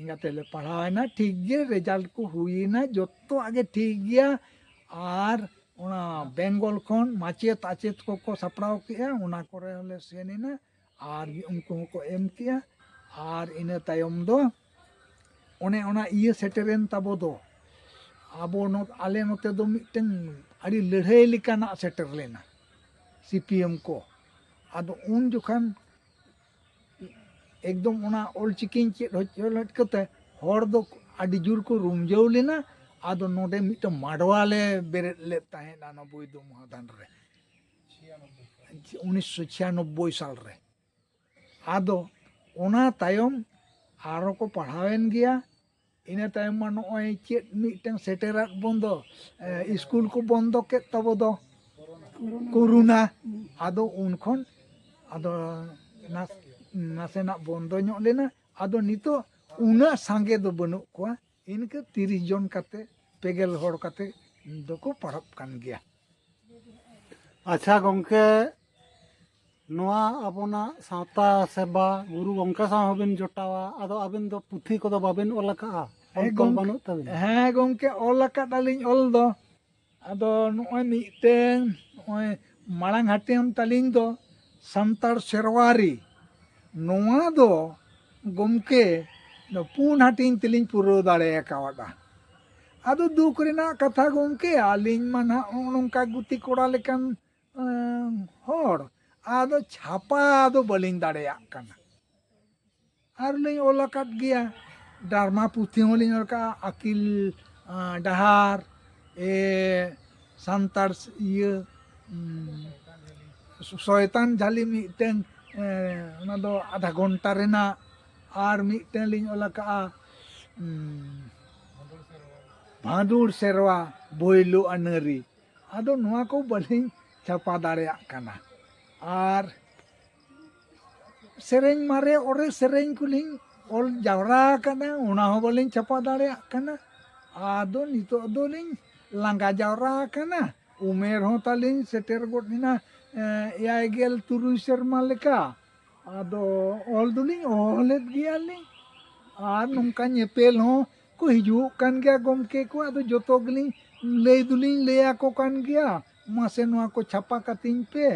ᱤᱱᱟᱹ ᱛᱮᱞᱮ ᱯᱟᱲᱦᱟᱣᱮᱱᱟ ᱴᱷᱤᱠ ᱜᱮ ᱨᱮᱡᱟᱞᱴ ᱠᱚ ᱦᱩᱭᱮᱱᱟ ᱡᱚᱛᱚᱣᱟᱜ ᱜᱮ ᱴᱷᱤᱠ ᱜᱮᱭᱟ ᱟᱨ ᱚᱱᱟ ᱵᱮᱝᱜᱚᱞ ᱠᱷᱚᱱ ᱢᱟᱪᱮᱫ ᱟᱪᱮᱫ ᱠᱚᱠᱚ ᱥᱟᱯᱲᱟᱣ ᱠᱮᱫᱼᱟ ᱚᱱᱟ ᱠᱚᱨᱮ ᱦᱚᱸᱞᱮ ᱥᱮᱱ ᱮᱱᱟ ᱟᱨ ᱩᱱᱠᱩ ᱦᱚᱸᱠᱚ ᱮᱢ ᱠᱮᱫᱼᱟ ᱟᱨ ᱤᱱᱟᱹ ᱛᱟᱭᱚᱢ ᱫᱚ ᱚᱱᱮ ᱚᱱᱟ ᱤᱭᱟᱹ ᱥᱮᱴᱮᱨᱮᱱ ᱛᱟᱵᱚ ᱫᱚ ᱟᱵᱚ ᱟᱞᱮ ᱱᱚᱛᱮ ᱫᱚ ᱢᱤᱫᱴᱟᱹᱝ ᱟᱹᱰᱤ ᱞᱟᱹᱲᱦᱟᱹᱭ ᱞᱮᱠᱟᱱᱟᱜ ᱥᱮᱴᱮᱨ ᱞᱮᱱᱟ ᱥᱤ ᱯᱤ ᱮᱢ ᱠᱚ ᱟᱫᱚ ᱩᱱ ᱡᱚᱠᱷᱟᱱ ᱮᱠᱫᱚᱢ ᱚᱱᱟ ᱚᱞᱪᱤᱠᱤᱧ ᱪᱮᱫ ᱦᱚᱪᱚ ᱞᱮᱫ ᱠᱚᱛᱮ ᱦᱚᱲ ᱫᱚ ᱟᱹᱰᱤ ᱡᱳᱨ ᱠᱚ ᱨᱩᱢᱡᱟᱹᱣ ᱞᱮᱱᱟ ᱟᱫᱚ ᱱᱚᱰᱮ ᱢᱤᱫᱴᱟᱝ ᱢᱟᱰᱣᱟ ᱞᱮ ᱵᱮᱨᱮᱫ ᱞᱮᱫ ᱛᱟᱦᱮᱸᱫᱼᱟ ᱚᱱᱟ ᱵᱳᱭᱫᱚ ᱢᱚᱦᱟᱫᱟᱱ ᱨᱮ ᱩᱱᱤᱥᱥᱚ ᱪᱷᱤᱭᱟᱱᱚᱵᱵᱳᱭ ᱥᱟᱞ ᱨᱮ ᱟᱫᱚ ᱚᱱᱟ ᱛᱟᱭᱚᱢ ᱟᱨᱚ ᱠᱚ ᱯᱟᱲᱦᱟᱣᱮᱱ ᱜᱮᱭᱟ ᱤᱱᱟᱹ ᱛᱟᱭᱚᱢ ᱢᱟ ᱱᱚᱜᱼᱚᱭ ᱪᱮᱫ ᱢᱤᱫᱴᱟᱝ ᱥᱮᱴᱮᱨᱟᱜ ᱵᱚᱱ ᱫᱚ ᱥᱠᱩᱞ ᱠᱚ ᱵᱚᱱᱫᱚ ᱠᱮᱫ ᱛᱟᱵᱚ ᱫᱚ ᱠᱳᱨᱳᱱᱟ ᱟᱫᱚ ᱩᱱ ᱠᱷᱚᱱ ᱟᱫᱚ ᱱᱟᱥᱮᱱᱟᱜ ᱵᱚᱱᱫᱚ ᱧᱚᱜ ᱞᱮᱱᱟ ᱟᱫᱚ ᱱᱤᱛᱚᱜ ᱩᱱᱟᱹᱜ ᱥᱟᱸᱜᱮ ᱫᱚ ᱵᱟᱹᱱᱩᱜ ᱠᱚᱣᱟ ᱤᱱᱠᱟᱹ ᱛᱤᱨᱤᱥ ᱡᱚᱱ ᱠᱟᱛᱮ ᱯᱮᱜᱮᱞ ᱦᱚᱲ ᱠᱟᱛᱮ ᱫᱚᱠᱚ ᱯᱟᱲᱦᱟᱜ ᱠᱟᱱ ᱜᱮᱭᱟ ᱟᱪᱪᱷᱟ ᱜᱚᱢᱠᱮ ᱱᱚᱣᱟ ᱟᱵᱚᱱᱟᱜ ᱥᱟᱶᱛᱟ ᱥᱮᱵᱟ ᱜᱩᱨᱩ ᱜᱚᱝᱠᱮ ᱥᱟᱶ ᱦᱚᱸᱵᱤᱱ ᱡᱚᱴᱟᱣᱟ ᱟᱫᱚ ᱟᱵᱤᱱ ᱫᱚ ᱯᱩᱛᱷᱤ ᱠᱚᱫᱚ ᱵᱟᱵᱤᱱ ᱚᱞ ᱟᱠᱟᱫᱼᱟ ᱚᱞ ᱛᱚᱞ ᱵᱟᱹᱱᱩᱜ ᱛᱟᱵᱤᱱᱟ ᱦᱮᱸ ᱜᱚᱝᱠᱮ ᱚᱞ ᱟᱠᱟᱫᱟᱞᱤᱧ ᱚᱞ ᱫᱚ ᱟᱫᱚ ᱱᱚᱜᱼᱚᱭ ᱢᱤᱫᱴᱮᱱ ᱱᱚᱜᱼᱚᱭ ᱢᱟᱲᱟᱝ ᱦᱟᱹᱴᱤᱧ ᱛᱟᱹᱞᱤᱧ ᱫᱚ ᱥᱟᱱᱛᱟᱲ ᱥᱮᱨᱣᱟᱨᱤ ᱱᱚᱣᱟ ᱫᱚ ᱜᱚᱢᱠᱮ ᱯᱩᱱ ᱦᱟᱹᱴᱤᱧ ᱛᱮᱞᱤᱧ ᱯᱩᱨᱟᱹᱣ ᱫᱟᱲᱮ ᱟᱠᱟᱣᱟᱫᱟ ᱟᱫᱚ ᱫᱩᱠ ᱨᱮᱱᱟᱜ ᱠᱟᱛᱷᱟ ᱜᱚᱢᱠᱮ ᱟᱹᱞᱤᱧ ᱢᱟ ᱱᱟᱦᱟᱜ ᱱᱚᱜᱼᱚ ᱱᱚᱝᱠᱟ ᱜᱩᱛᱤ ᱠᱚᱲᱟ ᱞᱮᱠᱟᱱ ᱦᱚᱲ ᱟᱫᱚ ᱪᱷᱟᱯᱟ ᱫᱚ ᱵᱟᱹᱞᱤᱧ ᱫᱟᱲᱮᱭᱟᱜ ᱠᱟᱱᱟ ᱟᱨᱞᱤᱧ ᱚᱞ ᱟᱠᱟᱫ ᱜᱮᱭᱟ ᱰᱟᱨᱢᱟ ᱯᱩᱛᱷᱤ ᱦᱚᱸᱞᱤᱧ ᱚᱞ ᱠᱟᱜᱼᱟ ᱟᱹᱠᱤᱞ ᱰᱟᱦᱟᱨ ᱮ ᱥᱟᱱᱛᱟᱲ ᱤᱭᱟᱹ ᱥᱚᱭᱛᱟᱱ ᱡᱷᱟᱹᱞᱤ ᱢᱤᱫᱴᱟᱝ ᱚᱱᱟ ᱫᱚ ᱟᱫᱷᱟ ᱜᱷᱚᱱᱴᱟ ᱨᱮᱱᱟᱜ ᱟᱨ ᱢᱤᱫᱴᱟᱝ ᱞᱤᱧ ᱚᱞ ᱟᱠᱟᱜᱼᱟ ᱵᱷᱟᱸᱫᱩᱲ ᱥᱮᱨᱣᱟ ᱵᱷᱳᱭᱞᱳ ᱟᱹᱱᱟᱹᱨᱤ ᱟᱫᱚ ᱱᱚᱣᱟ ᱠᱚ ᱵᱟᱹᱞᱤᱧ ᱪᱷᱟᱯᱟ ᱫᱟᱲᱮᱭᱟᱜ ᱠᱟᱱᱟ ᱟᱨ ᱥᱮᱨᱮᱧ ᱢᱟᱨᱮ ᱚᱨᱮ ᱥᱮᱨᱮᱧ ᱠᱚᱞᱤᱧ ᱚᱞ ᱡᱟᱣᱨᱟ ᱟᱠᱟᱫᱟ ᱚᱱᱟ ᱦᱚᱸ ᱵᱟᱹᱞᱤᱧ ᱪᱷᱟᱯᱟ ᱫᱟᱲᱮᱭᱟᱜ ᱠᱟᱱᱟ ᱟᱫᱚ ᱱᱤᱛᱚᱜ ᱫᱚᱞᱤᱧ ᱞᱟᱸᱜᱟ ᱡᱟᱣᱨᱟ ᱟᱠᱟᱱᱟ ᱩᱢᱮᱨ ᱦᱚᱸ ᱛᱟᱹᱞᱤᱧ ᱥᱮᱴᱮᱨ ᱜᱚᱫ ᱮᱱᱟ ᱮᱭᱟᱭ ᱜᱮᱞ ᱛᱩᱨᱩᱭ ᱥᱮᱨᱢᱟ ᱞᱮᱠᱟ ᱟᱫᱚ ᱚᱞ ᱫᱚᱞᱤᱧ ᱚᱞᱮᱫ ᱜᱮᱭᱟᱞᱤᱧ ᱟᱨ ᱱᱚᱝᱠᱟ ᱧᱮᱯᱮᱞ ᱦᱚᱸ ᱠᱚ ᱦᱤᱡᱩᱜ ᱠᱟᱱ ᱜᱮᱭᱟ ᱜᱚᱢᱠᱮ ᱠᱚ ᱟᱫᱚ ᱡᱚᱛᱚ ᱜᱮᱞᱤᱧ ᱞᱟᱹᱭ ᱫᱚᱞᱤᱧ ᱞᱟᱹᱭ ᱟᱠᱚ ᱠᱟᱱ ᱜᱮᱭᱟ ᱢᱟᱥᱮ ᱱᱚᱣᱟ ᱠᱚ ᱪᱷᱟᱯᱟ ᱠᱟᱹᱛᱤᱧ ᱯᱮ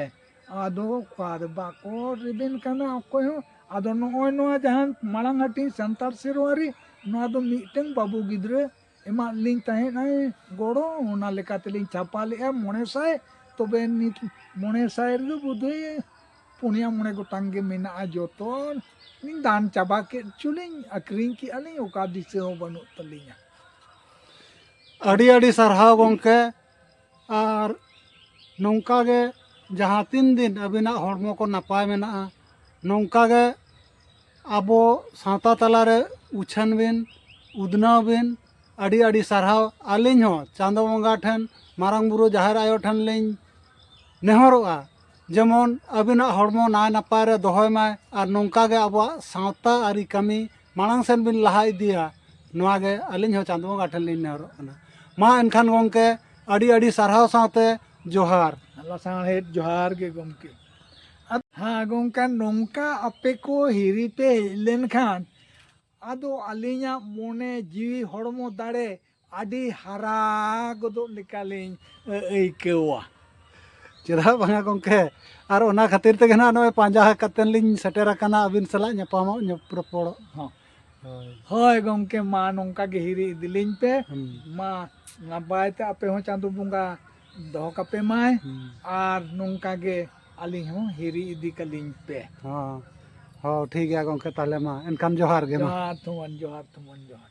ᱟᱫᱚ ᱚᱠᱟᱨᱮ ᱵᱟᱠᱚ ᱨᱮᱵᱮᱱ ᱠᱟᱱᱟ ᱚᱠᱚᱭ ᱦᱚᱸ ᱟᱫᱚ ᱱᱚᱜᱼᱚᱭ ᱱᱚᱣᱟ ᱡᱟᱦᱟᱸ ᱢᱟᱲᱟᱝ ᱦᱟᱹᱴᱤᱧ ᱥᱟᱱᱛᱟᱲ ᱥᱮᱨᱣᱟᱨᱤ ᱱᱚᱣᱟ ᱫᱚ ᱢᱤᱫᱴᱟᱝ ᱵᱟᱹᱵᱩ ᱜᱤᱫᱽᱨᱟᱹ ᱮᱢᱟᱫ ᱞᱤᱧ ᱛᱟᱦᱮᱸᱫ ᱟᱭ ᱜᱚᱲᱚ ᱚᱱᱟ ᱞᱮᱠᱟ ᱛᱮᱞᱤᱧ ᱪᱷᱟᱯᱟ ᱞᱮᱫᱼᱟ ᱢᱚᱬᱮ ᱥᱟᱭ ᱛᱚᱵᱮ ᱱᱤᱛ ᱢᱚᱬᱮ ᱥᱟᱭ ᱨᱮᱫᱚ ᱵᱳᱫᱷᱚᱭ ᱯᱩᱱᱭᱟ ᱢᱚᱬᱮ ᱜᱚᱴᱟᱝ ᱜᱮ ᱢᱮᱱᱟᱜᱼᱟ ᱡᱚᱛᱚ ᱞᱤᱧ ᱫᱟᱱ ᱪᱟᱵᱟ ᱠᱮᱫ ᱪᱚᱞᱤᱧ ᱟᱹᱠᱷᱨᱤᱧ ᱠᱮᱜᱼᱟ ᱞᱤᱧ ᱚᱠᱟ ᱫᱤᱥᱟᱹ ᱦᱚᱸ ᱵᱟᱹᱱᱩᱜ ᱛᱟᱹᱞᱤᱧᱟ ᱟᱹᱰᱤ ᱟᱹᱰᱤ ᱥᱟᱨᱦᱟᱣ ᱜᱚᱢᱠᱮ ᱟᱨ ᱱᱚᱝᱠᱟ ᱜᱮ ᱡᱟᱦᱟᱸ ᱛᱤᱱ ᱫᱤᱱ ᱟᱹᱵᱤᱱᱟᱜ ᱦᱚᱲᱢᱚ ᱠᱚ ᱱᱟᱯᱟᱭ ᱢᱮᱱᱟᱜᱼᱟ ᱱᱚᱝᱠᱟ ᱜᱮ ᱟᱵᱚ ᱥᱟᱶᱛᱟ ᱛᱟᱞᱟᱨᱮ ᱩᱪᱷᱟᱹᱱ ᱵᱤᱱ ᱩᱫᱽᱱᱟᱹᱣ ᱵᱤᱱ ᱟᱹᱰᱤ ᱟᱹᱰᱤ ᱥᱟᱨᱦᱟᱣ ᱟᱹᱞᱤᱧ ᱦᱚᱸ ᱪᱟᱸᱫᱚ ᱵᱚᱸᱜᱟ ᱴᱷᱮᱱ ᱢᱟᱨᱟᱝ ᱵᱩᱨᱩ ᱡᱟᱦᱮᱨ ᱟᱭᱳ ᱴᱷᱮᱱ ᱞᱤᱧ ᱱᱮᱦᱚᱨᱚᱜᱼᱟ ᱡᱮᱢᱚᱱ ᱟᱹᱵᱤᱱᱟᱜ ᱦᱚᱲᱢᱚ ᱱᱟᱭ ᱱᱟᱯᱟᱭ ᱨᱮ ᱫᱚᱦᱚᱭ ᱢᱟᱭ ᱟᱨ ᱱᱚᱝᱠᱟ ᱜᱮ ᱟᱵᱚᱣᱟᱜ ᱥᱟᱶᱛᱟ ᱟᱹᱨᱤ ᱠᱟᱹᱢᱤ ᱢᱟᱲᱟᱝ ᱥᱮᱫ ᱵᱤᱱ ᱞᱟᱦᱟ ᱤᱫᱤᱭᱟ ᱱᱚᱣᱟ ᱜᱮ ᱟᱹᱞᱤᱧ ᱦᱚᱸ ᱪᱟᱸᱫᱚ ᱵᱚᱸᱜᱟ ᱴᱷᱮᱱ ᱞᱤᱧ ᱱᱮᱦᱚᱨᱚᱜ ᱠᱟᱱᱟ ᱢᱟ ᱮᱱᱠᱷᱟᱱ ᱜᱚᱢᱠᱮ ᱟᱹᱰᱤ ᱟᱹᱰᱤ ᱥᱟᱨᱦᱟᱣ ᱥᱟᱶᱛᱮ ᱡᱚᱦᱟᱨ ᱞᱟᱥᱟᱬᱦᱮᱫ ᱡᱚᱦᱟᱨ ᱜᱮ ᱜᱚᱢᱠᱮ ᱦᱮᱸ ᱜᱚᱢᱠᱮ ᱱᱚᱝᱠᱟ ᱟᱯᱮ ᱠᱚ ᱦᱤᱨᱤ ᱯᱮ ᱦᱮᱡ ᱞᱮᱱᱠᱷᱟᱱ ᱟᱫᱚ ᱟᱹᱞᱤᱧᱟᱜ ᱢᱚᱱᱮ ᱡᱤᱣᱤ ᱦᱚᱲᱢᱚ ᱫᱟᱲᱮ ᱟᱹᱰᱤ ᱦᱟᱨᱟ ᱜᱚᱫᱚᱜ ᱞᱮᱠᱟᱞᱤᱧ ᱟᱹᱭᱠᱟᱹᱣᱟ ᱪᱮᱫᱟᱜ ᱵᱟᱝᱟ ᱜᱚᱢᱠᱮ ᱟᱨ ᱚᱱᱟ ᱠᱷᱟᱹᱛᱤᱨ ᱛᱮᱜᱮ ᱱᱟᱜ ᱱᱚᱜᱼᱚᱭ ᱯᱟᱸᱡᱟ ᱠᱟᱛᱮᱫ ᱞᱤᱧ ᱥᱮᱴᱮᱨ ᱟᱠᱟᱱᱟ ᱟᱹᱵᱤᱱ ᱥᱟᱞᱟᱜ ᱧᱟᱯᱟᱢᱚᱜ ᱨᱚᱯᱚᱲᱚᱜ ᱦᱚᱸ ᱦᱳᱭ ᱜᱚᱢᱠᱮ ᱢᱟ ᱱᱚᱝᱠᱟ ᱜᱮ ᱦᱤᱨᱤ ᱤᱫᱤᱞᱤᱧ ᱯᱮ ᱢᱟ ᱱᱟᱯᱟᱭ ᱛᱮ ᱟᱯᱮ ᱦᱚᱸ ᱪᱟᱸᱫᱳ ᱵᱚᱸᱜᱟ ᱫᱚᱦᱚ ᱠᱟᱯᱮ ᱢᱟᱭ ᱟᱨ ᱱᱚᱝᱠᱟ ᱜᱮ ᱟᱹᱞᱤᱧ ᱦᱚᱸ ᱦᱤᱨᱤ ᱤᱫᱤ ᱠᱟᱞᱤᱧ ᱯᱮ ᱦᱚᱸ ᱦᱚᱸ ᱴᱷᱤᱠ ᱜᱮᱭᱟ ᱜᱚᱝᱠᱮ ᱛᱟᱦᱚᱞᱮ ᱢᱟ ᱮᱱᱠᱷᱟᱱ ᱡᱚᱦᱟᱨ ᱜᱮ ᱢᱟ ᱡᱚᱦᱟᱨ ᱛᱷᱩᱢᱟᱱ ᱡᱚᱦᱟᱨ ᱛᱷᱩᱢᱟᱱ ᱡᱚᱦᱟᱨ